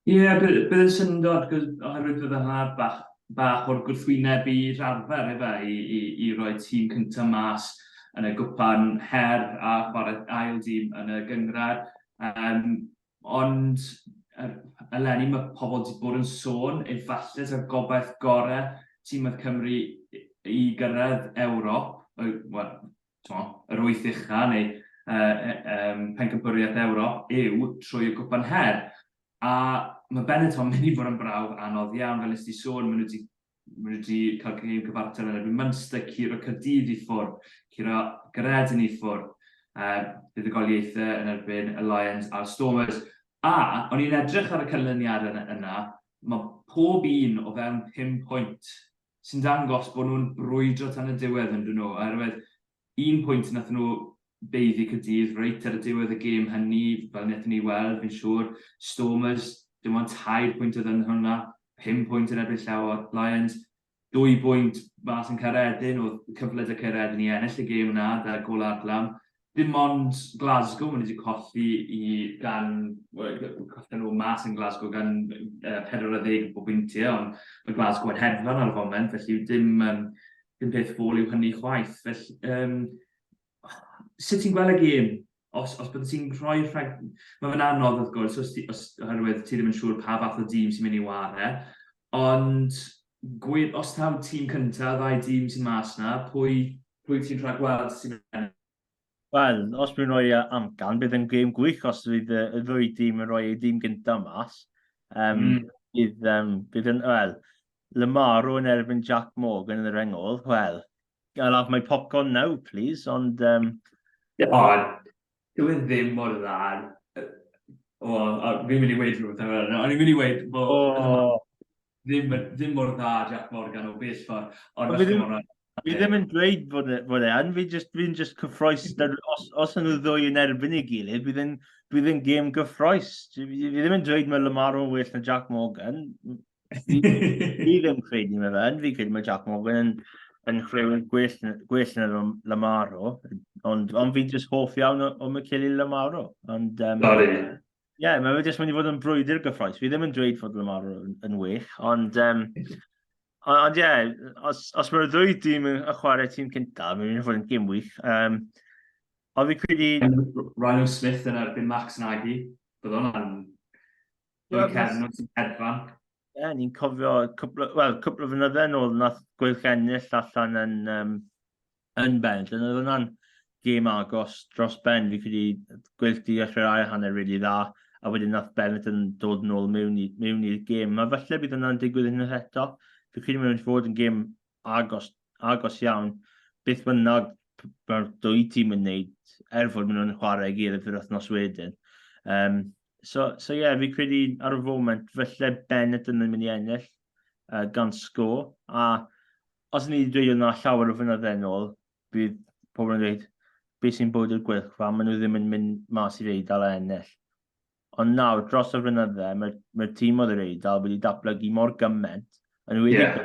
Ie, bydd yn syndod, achos oherwydd bydd yna bach bach o'r gwrthwyneb i rarfer efe i i i roi tîm cynta mas yn y gwpan her a chware ail dîm yn y gynghrair. Yym ond yr eleni ma' pobl 'di bod yn sôn efalle ta'r gobaith gore tîm oedd Cymru i gyrraedd Ewrop, wel yr wyth ucha neu Pencampwriaeth Ewrop yw trwy y Gwpan Her. A mae Benetton yn mynd i fod yn brawf anodd iawn, fel nes di sôn, maen nhw wedi maen nhw wedi cael gêm cyfartal yn erbyn Munster, curo Caerdydd i ffwrdd, curo Gaeredin i ffwrdd, uh, buddugoliaethau yn erbyn y Lions a'r Stormers. A o'n i'n edrych ar y canlyniad yna, mae pob un o fewn 5 pwynt sy'n dangos bod nhw'n brwydro tan y diwedd yn dyn nhw, oherwydd un pwynt nath nhw beiddi cydydd reit ar y diwedd y gêm hynny, fel wnaethon ni weld, fi'n siŵr, Stormers, dim ond tair pwynt oedd yn hwnna, pum pwynt yn erbyn llaw o'r Lions, dwy bwynt mas yn Caeredin, oedd cyfle da Caeredin i ennill y gêm yna, da golau Adlam, dim ond Glasgow maen nhw wedi colli i gan, wel, colli nhw mas yn Glasgow gan uh, 40 o bwyntiau, ond mae Glasgow yn hedfan ar y foment, felly dim, um, dim peth fôl yw hynny chwaith. Felly, um, sut ti'n gweld y gêm? Os, os byddai ti'n rhoi rhag... Mae fe'n anodd, wrth gwrs, os, os, oherwydd ti ddim yn siŵr pa fath o dîm sy'n mynd i ware, ond gwed, os taw tîm cyntaf, ddau dîm sy'n mas na, pwy, pwy ti'n rhagweld sy'n ennill? Wel, os byddwn rhoi e amcan, bydd yn gêm gwych os fydd y ddwy dîm yn rhoi ei dîm gyntaf mas. Um, mm. bydd, um, bydd yn, wel, Lamaro yn erbyn Jack Morgan yn yr engol, wel, I'll have my popcorn now, please, ond... Um... O, dwi e ddim mor dda. O, fi'n mynd i weid rhywbeth am hynny. O'n i'n mynd i weid bod... O, ddim, ddim mor dda Jac Morgan o bell ffordd, ond felly mor dda. Fi ddim yn dweud fod e, fod e yn, fi'n just, fi just cyffroes, os, os yn y ddwy yn erbyn ei gilydd, bydd yn, bydd yn gêm gyffroes. Fi, fi ddim yn dweud mae Lamar o'n well na Jack Morgan. Fi, fi ddim credu mae fe yn, fi credu mae Jack Morgan yn, yn chwreuwr gwell, gwell na Lamaro, ond, ond fi'n just hoff iawn o, o Michele Lamaro. Ond, um, Sorry. Ie, yeah, mae wedi mynd i fod yn brwydr gyffroes. Fi ddim yn dweud fod Lamar yn, yn wych, ond... Um, ond ie, yeah, os, os mae'r ddwy dîm yn chwarae tîm cyntaf, mae'n mynd i fod yn gym wych. Um, ond fi credu... Ryan o Smith yn erbyn Max Nagy. Bydd hwnna'n... Dwi'n cefn nhw'n sy'n hedfan. Ie, ni'n cofio cwpl, well, cwpl o fynydde yn ôl, nath gweilch ennill allan yn um, Yn bendant, oedd hwnna'n gêm agos dros ben, fi'n credu gweithdi di ddechrau'r ail hanner rili dda, a wedyn nath Bennett yn dod nôl mewn i, mewn i'r gêm. Mae falle bydd hwnna'n digwydd unwaith eto. Fi'n credu mae'n fod yn gêm agos, agos iawn. Beth bynnag mae'r dwy tîm yn neud, er fod maen nhw'n chwarae i gilydd yr wythnos wedyn. Um, so, so yeah, fi'n credu ar y foment, felly Bennett yn mynd i ennill uh, gan sgôr, a Os o'n i wedi dweud hwnna llawer o fynydde yn ôl, bydd pobl yn dweud, beth sy'n bod i'r gwylch, fa maen nhw ddim yn mynd mas i'r Eidal a ennill. Ond nawr, dros y fynydde, mae'r mae tîm oedd yr Eidal wedi datblygu mor gyment, yn wedi yeah.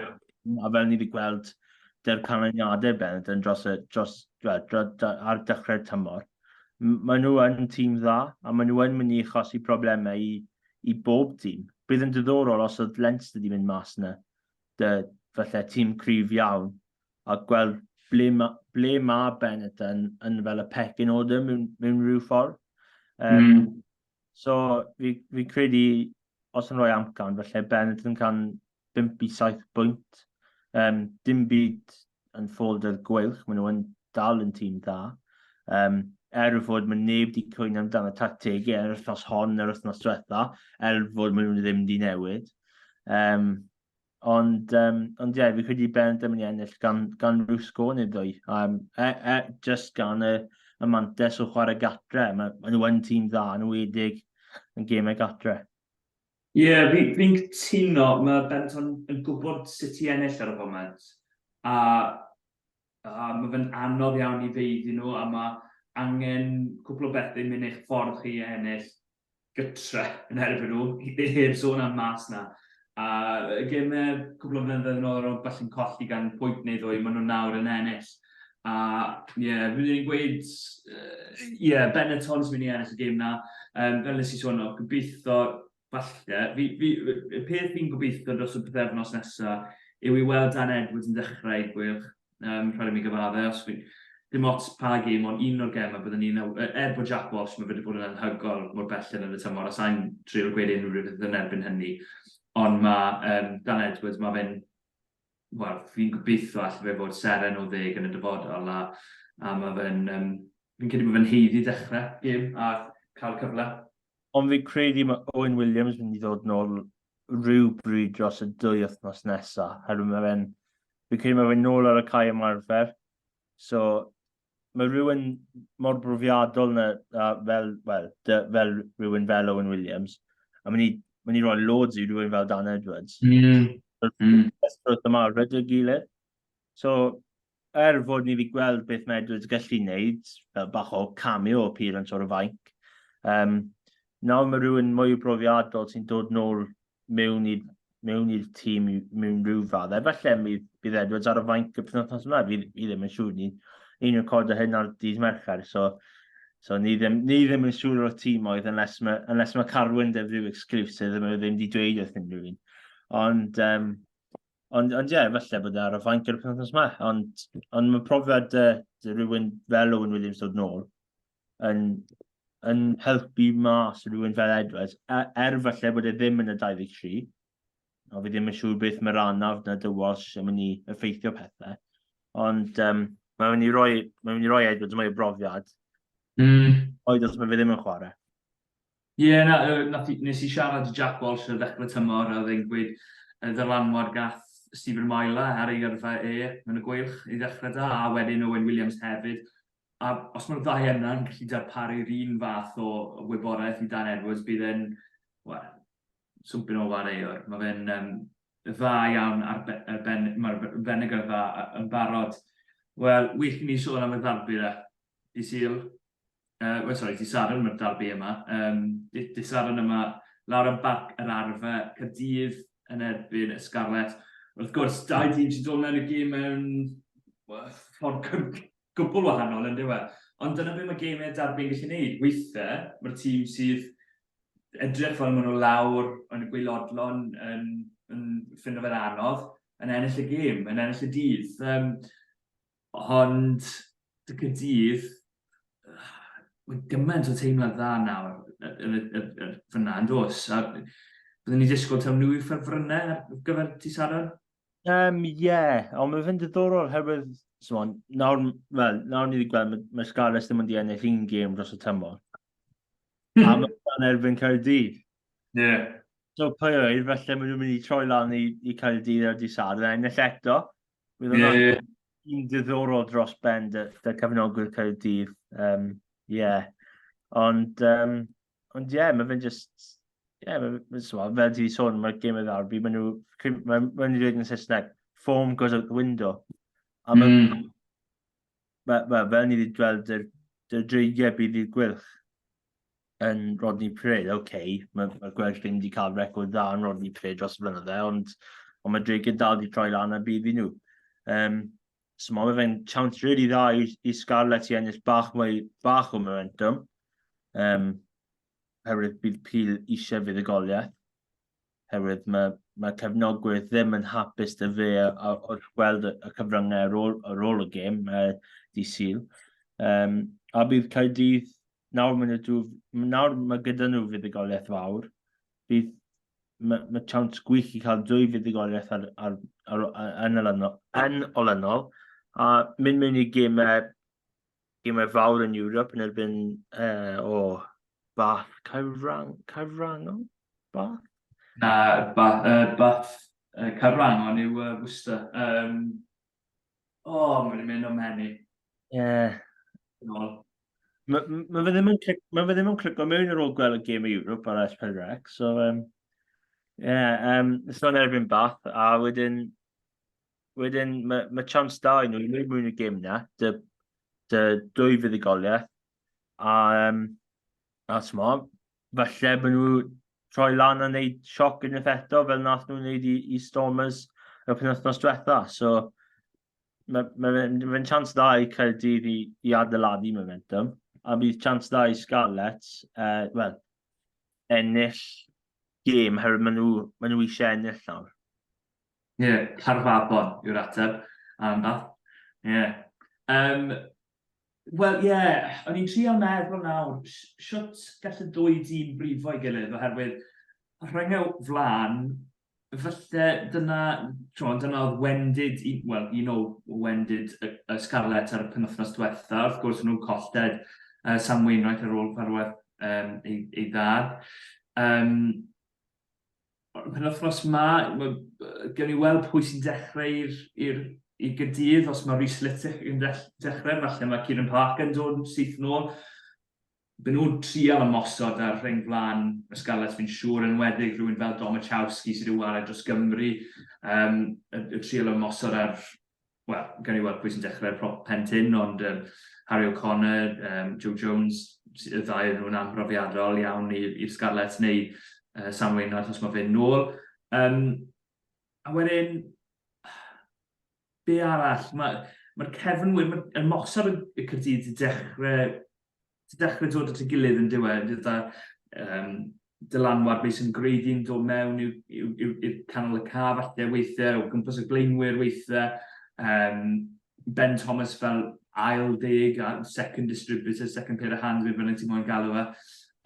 a fel ni wedi gweld dy'r canlyniadau bennod yn dros, y, dros, dros, dros, dros, ar dechrau'r tymor. Maen nhw yn tîm dda, a maen nhw yn mynd i achosi problemau i, i bob tîm. Bydd yn diddorol os oedd Leinster wedi mynd mas yna dy falle tîm cryf iawn a gweld ble mae, ble mae Benetton yn fel y pecyn o ddim mewn, mewn rhyw ffordd. Um, mm. So, fi, fi credu, os yn rhoi amcan, felly Benetton can 5 i 7 bwynt. Um, dim byd yn ffolder gweilch, maen nhw yn dal yn tîm dda. Um, er fod mae neb wedi cwyno amdano tactegau yr wythnos hon, yr wythnos diwetha, er fod maen nhw ddim wedi newid. Um, ond, um, ond ie, yeah, fi credu Ben ddim yn ennill gan, gan rhyw sgôr neu ddwy. Um, e, e, just gan y, y mantes o chwarae gatre. Mae, maen nhw yn tîm dda, yn wedig yn gemau gatre. Ie, fi, fi'n cytuno, mae Benton yn gwybod sut i ennill ar y foment, a, a mae fe'n anodd iawn i fe iddyn nhw, a mae angen cwpl o bethau mynd eich ffordd chi i ennill gytre yn erbyn nhw, heb sôn am mas 'na. A y gemau cwpl o flynyddoedd yn ôl o ran ballu'n colli gan pwynt neu ddwy, maen nhw nawr yn ennill. A ie, yeah, fi'n ei gweud, ie, yeah, Benetton sy'n mynd i ennill y gêm na. Um, fel nes i sôn, o, gobeithio, falle, fi, fi, y peth fi'n gobeithio dros y bythefnos nesaf yw i weld Dan Edwards yn dechrau i gwylch, um, rhaid i mi gyfadde, os fi, dim ots pa gêm, ond un o'r gemau byddwn ni'n, er bod Jack Walsh, mae wedi bod yn anhygol mor belled yn y tymor, a sa'n trio gweud unrhyw beth yn erbyn hynny, ond mae um, Dan Edwards, mae fe'n wel fi'n gobeithio allai fe fod seren o ddeg yn y dyfodol a, a mae fe'n, um, fi'n credu bod fe'n heiddi dechrau gym a cael cyfle. Ond fi'n credu mae Owen Williams yn mynd i ddod nôl rhyw bryd dros y dwy wythnos nesaf, herwydd mae fe'n, fi'n credu mae fe'n nôl ar y cae ymarfer, so mae rhywun mor brofiadol na, a fel, well, de, fel rhywun fel Owen Williams, a mae'n i, mae rhoi loads i rhywun fel Dan Edwards. Mm. Mm. Ysbryd yma rydw i gilydd. So, er fod ni wedi gweld beth mae Edwards gallu wneud, fel bach o cameo o pur yn tor o fainc, um, nawr mae rhywun mwy o brofiadol sy'n dod nôl mewn i'r mewn i'r tîm mewn rhyw fadd. Efallai bydd, bydd Edwards ar y fainc y penwthnos yma, fi, fi ddim yn siŵr. Ni, ni'n recordo hyn ar dydd Mercher, so, so ni, ddim, ni ddim yn siŵr o'r tîm oedd, unless mae, unless mae Carwyn def rhyw exclusive, ddim, ddim wedi dweud wrth unrhyw un. Ond, um, ond, ond ie, yeah, efallai bod e ar y fainc y penwthnos yma. Ond, ond mae profiad uh, rhywun fel Owen Williams dod nôl, yn, yn helpu mas rhywun fel Edwards, e, er falle bod e ddim yn y 23, o fi ddim yn siŵr beth mae'r anaf na dywas yn mynd i effeithio pethau, ond um, mae'n mynd i roi, mae'n mynd i roi Edwards mwy o brofiad, mm. oed os mae fe ddim yn chwarae. Ie, yeah, na, uh, nes i siarad i Jack Walsh ar ddechrau tymor a oedd e'n gweud y ddylanwad gath Stephen Myla ar ei yrfa e yn y gweilch i ddechrau da, a wedyn Owen Williams hefyd. A os mae'r ddau yna'n gallu darparu'r un fath o wybodaeth i Dan Edwards, bydd e'n, wel, swmpyn o wareuwr. Mae fe'n um, dda iawn ar be, ben, mae'r benegr dda yn barod. Wel, wych i ni sôn am y ddarbyd a Dydd Sul, uh, well, sorry, dydd Sadwrn mae'r darbu yma, um, dydd Sadwrn yma, lawr am barc yr arfa, Cadydd yn erbyn y Scarlet. Wrth gwrs, dau dîm sy'n dod mewn y gêm mewn ffordd gwbl wahanol yn dweud. Ond dyna beth mae gemau darbu'n gallu gwneud. Weithiau, mae'r tîm sydd edrych fel maen nhw lawr yn y gweilodlon yn, yn ffindo fe'n anodd, yn ennill y gêm, yn ennill y dydd. Um, Ond, dy Caerdydd, mae gymaint o teimlad dda nawr fyna, yn dos? A byddwn ni'n disgwyl taw nhw yw ffefrynnau ar gyfer ti Saron? Um, ie, yeah. ond mae fynd diddorol herwydd, so, nawr, well, nawr ni wedi gweld, mae, mae Scarlets ddim yn di ennill un gêm dros y tymor. a hmm. mae'n erbyn Caerdydd. Ie. Yeah. So, pwy oed, felly maen nhw'n mynd i troi lan i, i Caerdydd ar di Saron, ennill eto, Bydd yn yeah. un diddorol dros ben dy, dy cyfnogwyr Caerdydd. Um, yeah. Ond, um, ond yeah, mae fe'n just... Yeah, mae fe'n so, fel ti sôn, mae'r gym oedd arbi, mae nhw... Mae'n ma dweud yn Saesneg, foam goes out the window. A mae mm. Mae, mae, fel ni wedi gweld, yr, yr dreigiau bydd i'r gwylch yn Rodney Pred. Oce, okay, mae, mae gwelch ddim wedi cael record dda yn Rodney Pred dros y blynydde, ond, ond mae dreigiau dal wedi troi lan a bydd i nhw. Um, so mae fe'n chance rili really dda i, i Scarlett i ennill bach mwy, bach o momentum. Um, herwydd bydd Peel eisiau fydd y goliaeth. Herwydd mae, mae cefnogwyr ddim yn hapus dy fe wrth gweld y cyfryngau ar ôl, ar ôl y gêm, uh, di syl. Um, a bydd Caerdydd, nawr, maen nhw, nawr mae gyda nhw fuddugoliaeth fawr, bydd mae, mae chance gwych i cael dwy fuddugoliaeth ar, ar, ar, ar, yn, olynol, yn olynol, a mynd mewn i gemau gymau fawr yn Europe yn erbyn uh, o oh, Bath Caerwrang, Caerwrangol? Bath? Na, Bath, uh, Bath uh, Caerwrangol yw uh, Worcester. Um, o, oh, mae'n mynd o'n menu. Ie. Yeah. Mae ma fe ddim yn clico mewn ar ôl gweld y gêm i Europe ar S4C, so um, yeah, um, so yn erbyn Bath, a wedyn wedyn mae, ma chance da i nhw i wneud mwyn y gym na, dy, dy dwy fuddugoliaeth. A, um, a sma, falle bod nhw troi lan a wneud sioc yn eith eto fel nath nhw'n wneud i, i Stormers y penwthnos diwetha. So, mae'n ma, ma, ma, ma chance da i Caerdydd i, i adeiladu momentum. A bydd chance da i Scarlets, uh, well, ennill gêm, herwydd maen nhw, maen nhw eisiau ennill nawr. Ie, Caernarfon yw'r ateb. Anodd. Ie. Yym, Wel, ie, o'n i'n trio meddwl nawr, siwt gall y ddwy dîm brifo'i gilydd, oherwydd rhoi nhw flan, falle dyna, tro, dyna oedd wendid, wel, un o wendid y, y Scarlets ar y penwthnos diwetha, wrth gwrs nhw'n colled uh, Sam Wainwright ar ôl farwedd um, ei, ei ddad. Um, Ond pen wythnos ma, gen i weld pwy sy'n dechrau i'r i gydydd, os mae Rhys Littick yn dechrau, falle mae Kieran Parker yn dod yn syth nôl. Byn nhw'n trial ymosod ar rhain flaen y Scarlets fi'n siŵr, yn weddig rhywun fel Domachowski sydd wedi wared dros Gymru, um, y, y trial ymosod ar wel, gawn ni weld pwy sy'n dechrau ar prop Pentyn, ond um, Harry O'Connor, um, Joe Jones, y ddau nhw'n amhrofiadol iawn i'r Scarlets neu uh, Sam Wainwright os mae fe'n nôl. Um, a wedyn, be arall? Mae'r ma cefnwyr, mae'r mosod y Cyrdydd wedi dechrau ti'n dechrau dod at y gilydd yn diwedd, gyda um, dylanwad beth sy'n gwreiddi'n dod mewn i'r canol y ca falle weithiau, o gwmpas y blaenwyr weithiau, um, Ben Thomas fel ail deg, a second distributor, second pair of hands, beth bynnag ti'n mwyn galw fe.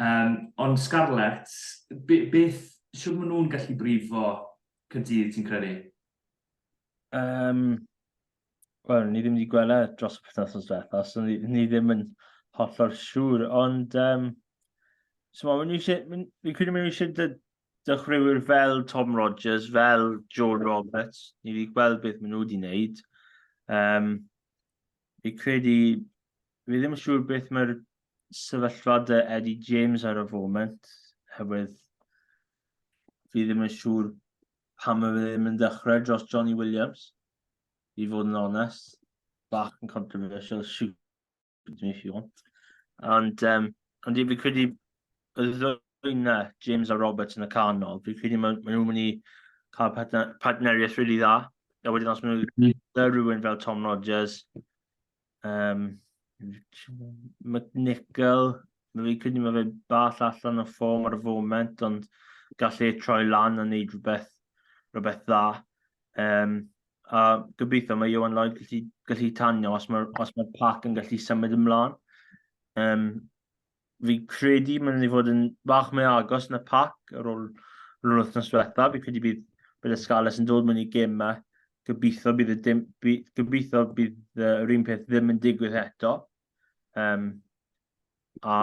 Um, ond Scarlett, be, beth, siwr maen nhw'n gallu brifo cydydd ti'n credu? Um, Wel, ni ddim wedi gwella e dros y penwthnos diwetha, so ni, ni ddim yn hollol siŵr, ond... Um, so ma, ni eisiau, fi'n credu mynd eisiau dy, dychwyrwyr fel Tom Rogers, fel Joe Roberts, ni wedi gweld beth maen nhw wedi wneud. Um, fi'n credu, fi ddim yn siŵr beth mae'r sefyllfa dy Eddie James ar y foment, hefyd fi ddim yn siŵr pam mae fe ddim yn dechrau dros Johnny Williams, i fod yn onest. Bach yn controversial, shoot me if you want. Ond, um, ond fi credu y ddwy na, James a Roberts yn y canol, fi credu maen ma nhw'n mynd i cael partneriaeth rili really dda. A wedyn os maen nhw'n mm. rhywun fel Tom Rogers, Um, McNichol, fi'n credu mae fe bach allan o ffom ar y foment, ond gallu ei troi lan a wneud rhywbeth, rhywbeth dda. Um, a gobeithio mae Iwan Lloyd gallu, gallu tanio os mae'r mae pac yn gallu symud ymlaen. Um, fi credu mae'n mynd i fod yn bach mwy agos yn y pac ar ôl rhywun wythnos diwetha. Fi credu bydd, bydd y Scarlets yn dod mewn i gemau. Gobeithio bydd, y dim, by, gobeithio bydd yr un peth ddim yn digwydd eto. Um, a,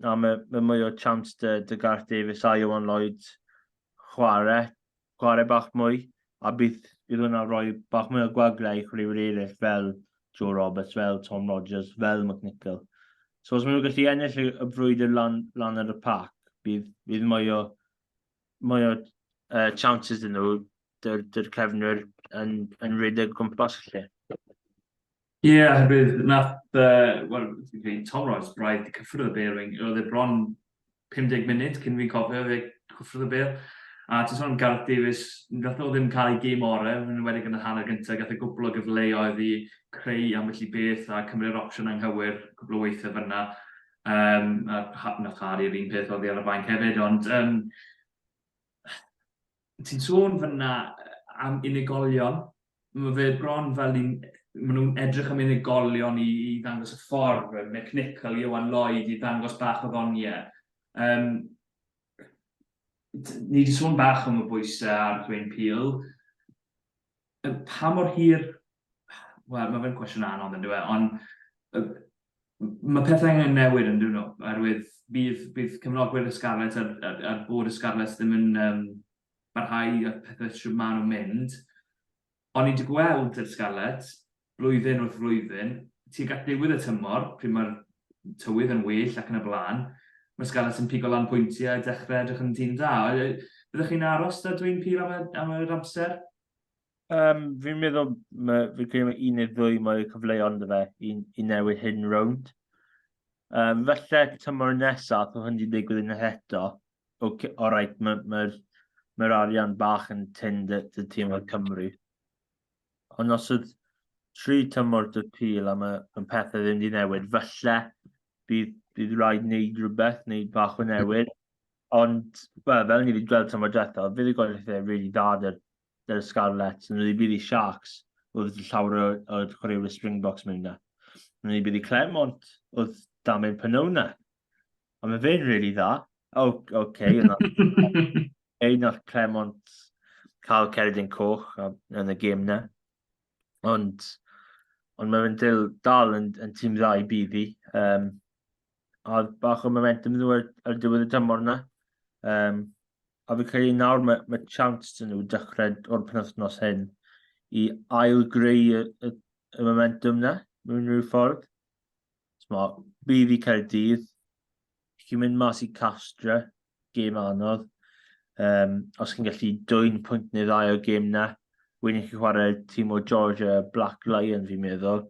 a mae, mae mwy o chance dy, dy Garth Davies a Iwan Lloyd chwarae chwarae bach mwy, a bydd bydd hwnna'n rhoi bach mwy o gwaglau i chwaraewyr eraill fel Joe Roberts, fel Tom Rogers, fel McNichol. So os maen nhw'n gallu ennill y, y frwydr lan, lan ar y pac, bydd, bydd mwy o, mwy o uh, chances yn nhw dy'r, dyr cefnwyr yn, yn rhedeg gwmpas lle. Ie, oherwydd nath, uh, wel, fi'n Tom Ross, braidd i cyffwrdd y bel, oedd e bron 50 munud cyn fi'n cofio fe cyffwrdd y bel. A ti'n sôn am Gareth Davies, nath nhw ddim cael ei gêm orau, yn enwedig yn y hanner gyntaf, gath y e gwbl o gyfleoedd i creu am felly beth a cymryd opsiwn anghywir, cwbl o weithiau fyna. Um, a nath Harry yr un peth oedd ar y bainc hefyd, ond um, ti'n sôn fyna am unigolion, mae fe bron fel ni'n maen nhw'n edrych am unigolion i, i ddangos y ffordd, Mick Nichol, Iwan Lloyd, i ddangos bach o ddoniau. Um, ni wedi sôn bach am y bwysau ar Dwayne Peel. Pa mor hir... Wel, mae fe'n cwestiwn anodd yn dweud, ond mae pethau angen newid yn dweud nhw, oherwydd bydd, bydd cefnogwyr y Scarlets a'r, a'r, a'r bod y Scarlets ddim yn um, barhau a pethau sydd maen nhw'n mynd. Ond ni'n wedi gweld y Scarlets blwyddyn wrth flwyddyn, tuag at ddiwedd y tymor, pryd mae'r tywydd yn well ac yn y blaen, mae Scarlets yn pigo lan pwyntiau a dechrau edrych yn tîm da. Byddwch chi'n aros da dwy'n pil am, am yr amser? Um, fi'n meddwl, mae, fi'n credu mae un neu ddwy mwy cyfleon dy fe i, i newid hyn rownd. Um, felly, tymor nesaf, oedd hyn wedi digwydd yn eto. Okay, o rhaid, mae'r ma, ma, ma arian bach yn tyn dy, dy tîm o'r Cymru. Ond os oedd tri tymor dy pil am y, y pethau ddim wedi newid, falle bydd, bydd rhaid wneud rhywbeth, wneud bach o newid. Ond, well, fel ni wedi gweld tymor diwetha, bydd y gweithio rili really dda dy'r, dy'r Scarlets. Nhw wedi bydd i Sharks, oedd llawer o, o chwaraewyr Springboks mewn yna. Nhw wedi bydd i Clermont, oedd Damien Pynona. Ond mae fe'n really dda. O, oh, okay. Ei, nath Clement cael Ceridin Coch yn y gêm na. Ond, ond mae fe'n dil dal yn, yn tîm dda i bydd fi. Um, a bach o momentum nhw ar, ar diwedd y tymor na. Um, a fi'n credu nawr mae, mae chance dyn nhw dechrau o'r penwthnos hyn i ail greu y, y, y momentum na, mewn rhyw ffordd. Mo, bydd i Caerdydd, chi'n mynd mas i Castra, gêm anodd. Um, os chi'n gallu dwy'n pwynt neu ddau o gêm na, wedyn chi'n chwarae tîm o Georgia Black Lion fi'n meddwl,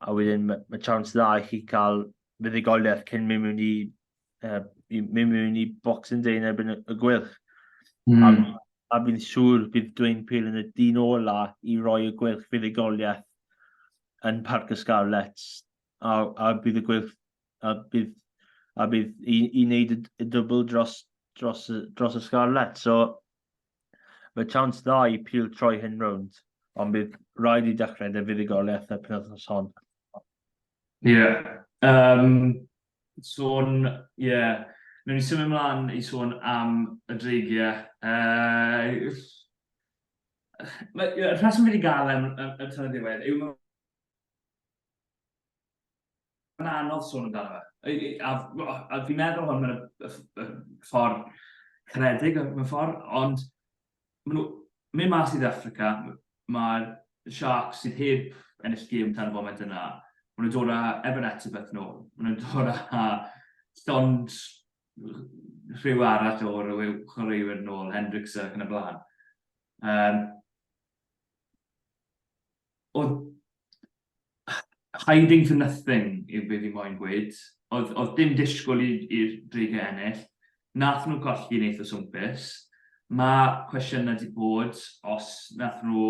a wedyn mae ma chance dda i chi cael fuddigoliaeth cyn mynd mewn i, uh, mynd mewn i Boxing Day yn erbyn y gwylch. Mm. A, hmm. a fi'n siŵr bydd Dwayne Peel yn y dyn ola i roi y gwylch fuddigoliaeth yn Parc y Scarlets, a, a bydd y gweilch, a bydd, a bydd i, i wneud y, y dwbl dros, dros, dros y Scarlets. So, mae chance dda i pil troi hyn rownd, ond bydd rhaid i dechrau dy fuddugoliaeth y penwthnos hon. Ie. Yeah. Um, sôn, ie, yeah. Nw'n ni symud ymlaen i sôn am y dreigiau. Uh, Y rheswm fi wedi gael am y tan y diwedd yw mae'n anodd sôn amdano fe. A, a, a fi'n meddwl hwn mewn y ffordd caredig mewn ffordd, ond maen nhw mynd mas i'r Africa, mae'r Sharks sydd heb ennill gym tan y foment yna, maen nhw'n dod â Evan Etzebeth nôl, maen nhw'n dod â llond rhyw arall o rhyw yw chwaraewyr nôl, Hendricks ac yn y blaen. Um, oedd hiding for nothing yw beth i moyn gweud. Oedd, oedd dim disgwyl i'r dreigau ennill. Nath nhw colli neith o swmpus. Mae cwestiynau wedi bod os nath nhw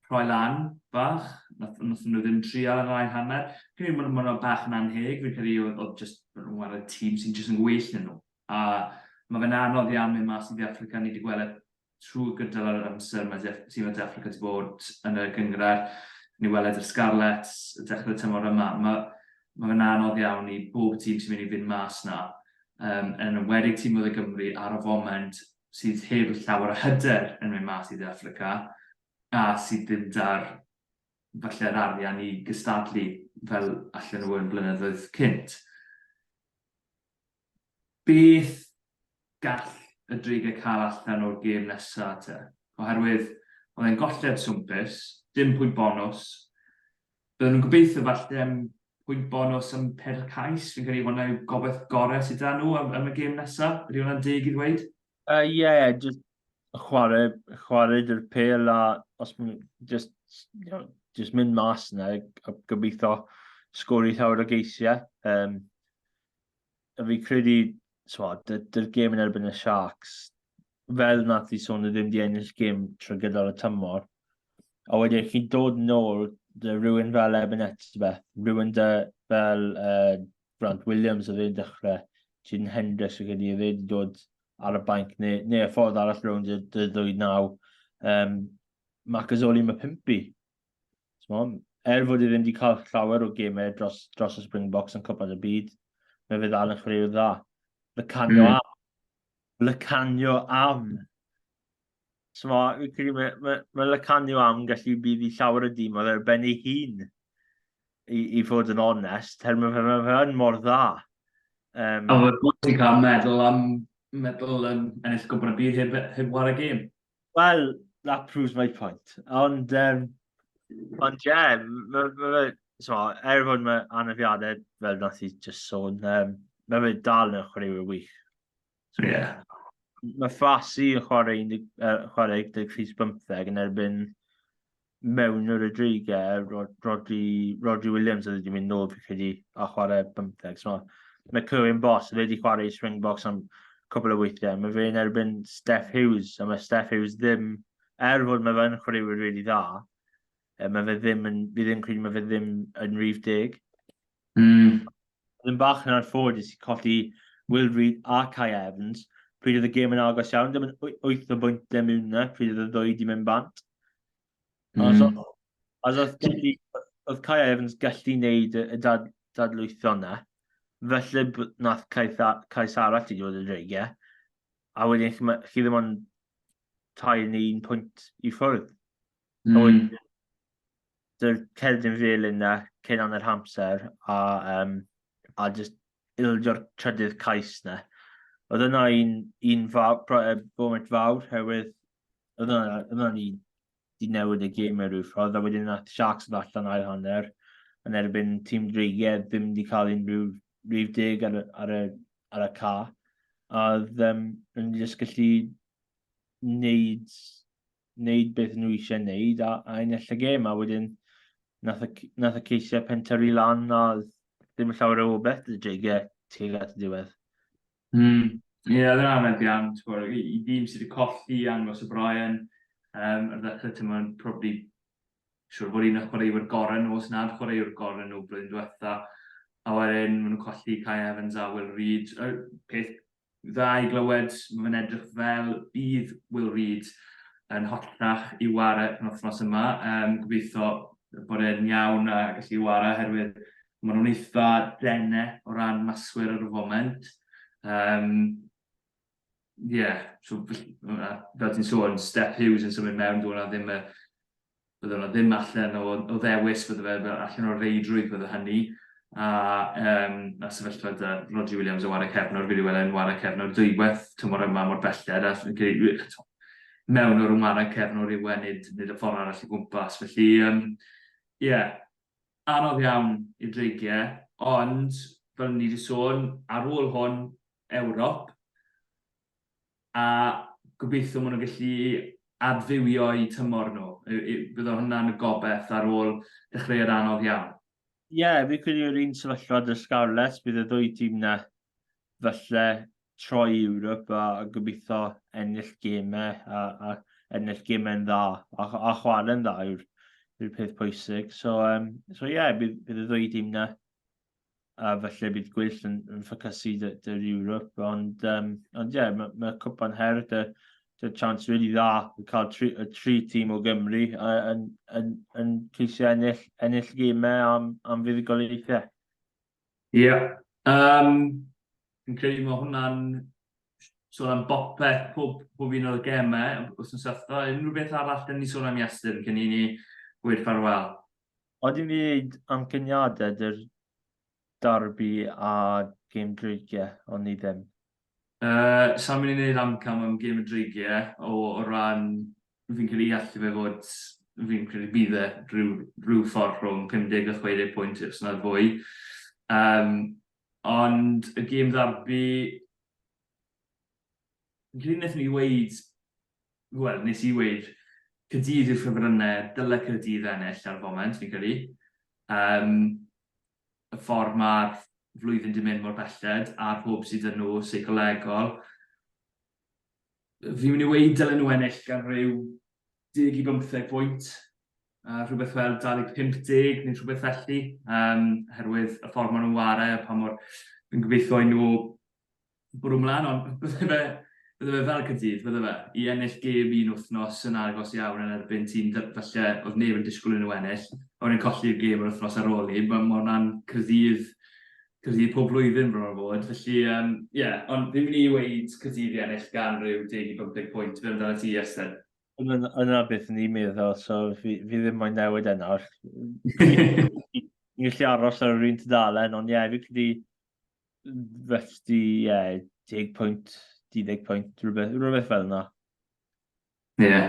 rhoi lan bach, wnaethon nhw ddim trial yn yr ail hanner. Fi'n credu bod hwnna bach yn anheg, fi'n credu oedd jyst nhw'n wario tîm sy'n jyst yn well na nhw. A mae fe'n anodd iawn mynd mas i De Affrica, ni wedi gweld e trwy gydol yr amser mae tîm y De Affrica wedi bod yn y gynghrair. Ni weled yr Scarlets yn dechrau'r tymor yma. Mae ma fe'n anodd iawn i bob tîm sy'n mynd i fynd mas na, um, yn enwedig tîm oedd y Gymru ar y foment sydd heb llawer o hyder yn mynd mas i De Affrica a sydd ddim da'r falle yr arian i gystadlu fel allan nhw yn blynyddoedd cynt. Beth gall y dreigiau cael allan o'r gêm nesaf te? Oherwydd oedd e'n golled swmpus, dim pwynt bonws, Byddwn yn gobeithio falle am pwynt bonws am pedwar cais, fi'n credu hwnna yw gobaith gorau sydd da nhw am, am y gêm nesaf, ydy hwnna'n deg i ddweud? Ie, uh, yeah, just chwarae, chwarae dy'r pel a os mae'n just, you know, just mynd mas yna a gobeithio sgori llawer o geisiau. Um, a fi credu, twa, dy'r gêm yn erbyn y Sharks, fel nath i sôn, ddim di ennill gêm trwy gydol y tymor. A wedyn, chi'n dod yn ôl, dy rhywun fel Eben Etzbeth, rhywun dy fel uh, Grant Williams oedd e'n dechrau, Jyn Hendricks oedd wedi wedi dod ar y banc, neu, neu y ffordd arall rhwng dy, dy ddwy naw. Um, Macazoli mae pimpi. er fod e ddim wedi cael llawer o gemau dros, dros y Springboks yn cwpad y byd, mae fe ddal yn chwaraewr dda. Lycanio mm. am. Lycanio am. So mae, credu, mae, mae, mae Lycanio am gallu bydd i llawer y dîm, oedd e'r ben ei hun, i, i fod yn onest, her mae fe, mae fe yn mor dda. Um, a mae bwysig cael meddwl am meddwl yn ennill gwybod y byd heb, heb war y gêm. Wel, that proves my point. Ond, um... Ond, ie, yeah, mae fe... So, er fod mae anafiadau, fel nath i just sôn, um, mae fe dal yn chwaraewyr wych. So, ie. Yeah. Mae Fasi yn chwarae, uh, chwarae 13 yn erbyn mewn yr y dreigau, Rodri, Rodri Williams oedd wedi mynd nôl fi chedi a chwarae bymtheg. So, mae Clywyn Bos, fe wedi chwarae i Springboks am cwbl o weithiau. Mae fe'n erbyn Steph Hughes, a mae Steph Hughes ddim, er fod mae fe'n chwaraewyr really dda, e, mae fe ddim yn, fi ddim credu mae fe ddim yn rhif deg. Mm. Oedd yn bach yn anffodus i colli Will Reid a Kai Evans pryd oedd y gêm yn agos iawn, dim yn wyth o bwyntiau mewn na pryd oedd y ddwy wedi mynd bant. Mm. Os oedd gallu, oedd Kai Evans gallu wneud y dad, dadlwytho yna, felly nath Kai, Kai Sarah ti dod y dreigiau, a wedyn chi, chi ddim ond tair neu un pwynt i ffwrdd. Mm. Oed, dy'r cerdyn fel yna, cyn anna'r hamser, a, um, a just ildio'r trydydd cais na. Oedd yna un, un fawr, boment fawr, herwydd oedd yna, oedd yna un di newid y gêm mewn rhyw ffordd, a wedyn yna Sharks yn allan ail hanner, yn erbyn tîm Dreigiau, ddim wedi cael unrhyw rhyw deg ar, ar, y, ar y ca. A ddim yn just gallu wneud wneud beth nhw eisiau wneud a, a ennill y gêm, a wedyn nath y, nath y ceisiau pentyrru lan a ddim yn llawer o obeth y dreigiau tuag at y diwedd. Mm. Ie, yeah, dyna fe bian, i, i dîm sydd wedi colli angos y Brian, um, ar ddechrau ti'n mwyn probably siwr bod un o chwaraewyr gorau nhw, os nad chwaraewyr gorau nhw blwyddyn diwetha, a wedyn maen nhw'n colli Kai Evans a Will Reed. Y peth dda i glywed, mae fe'n edrych fel bydd Will Reid yn holltach i ware yn wythnos yma, um, gobeithio bod e'n iawn a gallu ware oherwydd maen nhw'n eitha dene o ran maswyr ar y foment. Um, yeah, so, fel ti'n sôn, Steph Hughes yn symud mewn, dwi'n ddim y bydde yna ddim allan o, o ddewis, bydde fe fel allan o'r reidrwydd bydde hynny, a um, na sefyllfa da Rodri Williams yn wario cefnwr, fi wedi weld e'n wario cefnwr dwywaith tymor yma mor belled, a eto, mewn o'r ymwara cefnwr yw e, nid, nid y ffordd arall i gwmpas. Felly, ie, um, yeah, anodd iawn i dreigiau, ond fel ni wedi sôn, ar ôl hwn, Ewrop, a gobeithio maen nhw'n gallu adfywio i tymor nhw. Bydd o hwnna'n y gobeth ar ôl dechreuad anodd iawn. Ie, yeah, fi credu yw'r un sefyllfa dy Scarlets, bydd y ddwy tîm na falle troi i Ewrop a, a gobeithio ennill gemau a, a ennill gemau'n dda a, a chwarae'n dda yw'r yw peth pwysig. So, um, so yeah, bydd, bydd y ddwy tîm na a falle bydd gweill yn, yn ffocysu dy, dy'r Europe, ond um, ond ie, yeah, mae ma Cwpan Her dy, dy chance really dda i cael tri, y tri tîm o Gymru yn, yn, yn ceisio ennill, ennill gymau am, am fuddugoliaethau. Ie, yeah. um, fi'n credu mae hwnna'n sôn am bopeth, pob, pob un o'r gemau, os yn sefyllfa, unrhyw beth arall, dyn ni sôn am Iestyn, cyn i ni gweud ffarwel. Oedden ni wneud amcaniadau dy'r darbi a gêm dreigie, ond ni ddim. Yy, sai'n mynd i wneud amcan am gêm y dreigie, o o ran fi'n credu i allu fe fod, fi'n credu bydd e rhyw rhyw ffordd rhwng 50 a 60 pwynt os nad fwy. Yym, ond y gêm ddarbi, Rhyn wnaethon ni weud, wel, nes i weud, Caerdydd yw'r ffefrynnau, dyle Caerdydd ennill ar y foment, fi'n credu. Um, y ffordd mae'r flwyddyn di mynd mor belled, a'r hwb sydd yn nhw seicolegol. Fi'n mynd i weid dylen nhw ennill gan rhyw 10 i 15 pwynt, uh, rhywbeth fel 250 neu rhywbeth felly, um, herwydd y ffordd maen nhw'n ware, pa mor... Fi'n gobeithio i nhw bwrw mlaen, ond bydde fe, bydde fe fel Caerdydd, bydde fe, i ennill gêm un wythnos yn agos iawn yn erbyn tîm falle oedd neb yn disgwyl yn nhw ennill, a wedyn colli'r gêm yr wythnos ar ôl i, mae hwnna'n Caerdydd, Caerdydd pob blwyddyn bron a bod, felly ie, um, yeah, ond fi'n mynd i weid Caerdydd i ennill gan rhyw 10 i 15 pwynt, fe amdano ti, Esther? Yna beth yn i'n meddwl, so fi, fi ddim moyn newid e nawr. Ni'n gallu aros ar yr un tudalen, ond ie, yeah, fi credu Felly, ie, yeah, 10 pwynt, 12 pwynt, rhywbeth, rhywbeth fel yna. Ie. Yeah.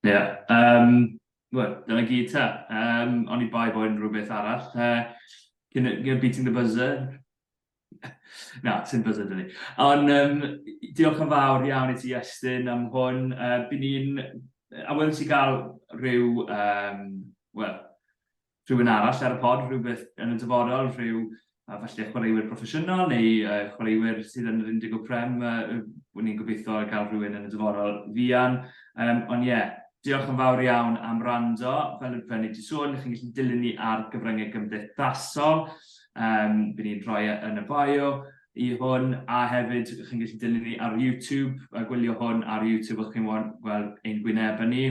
Ie. Yeah. Um, Wel, dyna gyd ta. Um, ond i bai bo'n rhywbeth arall. Uh, cyn, cyn beating the buzzer. Na, ti'n buzzer dyn ni. Ond um, diolch yn fawr iawn i ti, Estyn, am hwn. Uh, Byn ni'n... A wedi'n ti gael rhyw... Um, Wel, rhywun arall ar y pod, rhywbeth yn y dyfodol, rhyw a falle chwaraewyr proffesiynol neu uh, chwaraewyr sydd yn yr 10 o Prem, uh, wyn i'n gobeithio gael rhywun yn y dyfodol fian. Um, ond ie, yeah, diolch yn fawr iawn am rando. Fel y brynu ti sôn, chi'n gallu dilyn ni ar gyfryngau gymdeithasol. Um, Bydd ni'n rhoi e yn y bio i hwn, a hefyd chi'n gallu dilyn ni ar YouTube, a gwylio hwn ar YouTube, o'ch chi'n gweld ein gwynebau ni.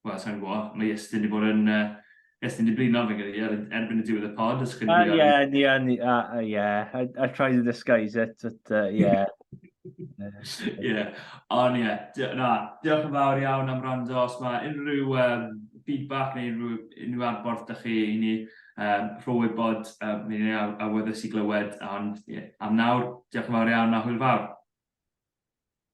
wel, sa'n gwybod, mae Iestyn wedi bod yn... Uh, Iestyn wedi blino fe gyda er, erbyn y diwedd y pod, os chi'n gwybod. Ie, ni, ni, ie. I try to disguise it, but uh, yeah. Ie, ond ie, na, diolch yn fawr iawn am rando. Os mae unrhyw um, feedback neu unrhyw, unrhyw adborth da chi i ni, um, rho wybod, um, ni'n ei awyddus i glywed, ond ie, am nawr, diolch yn fawr iawn a hwyl fawr.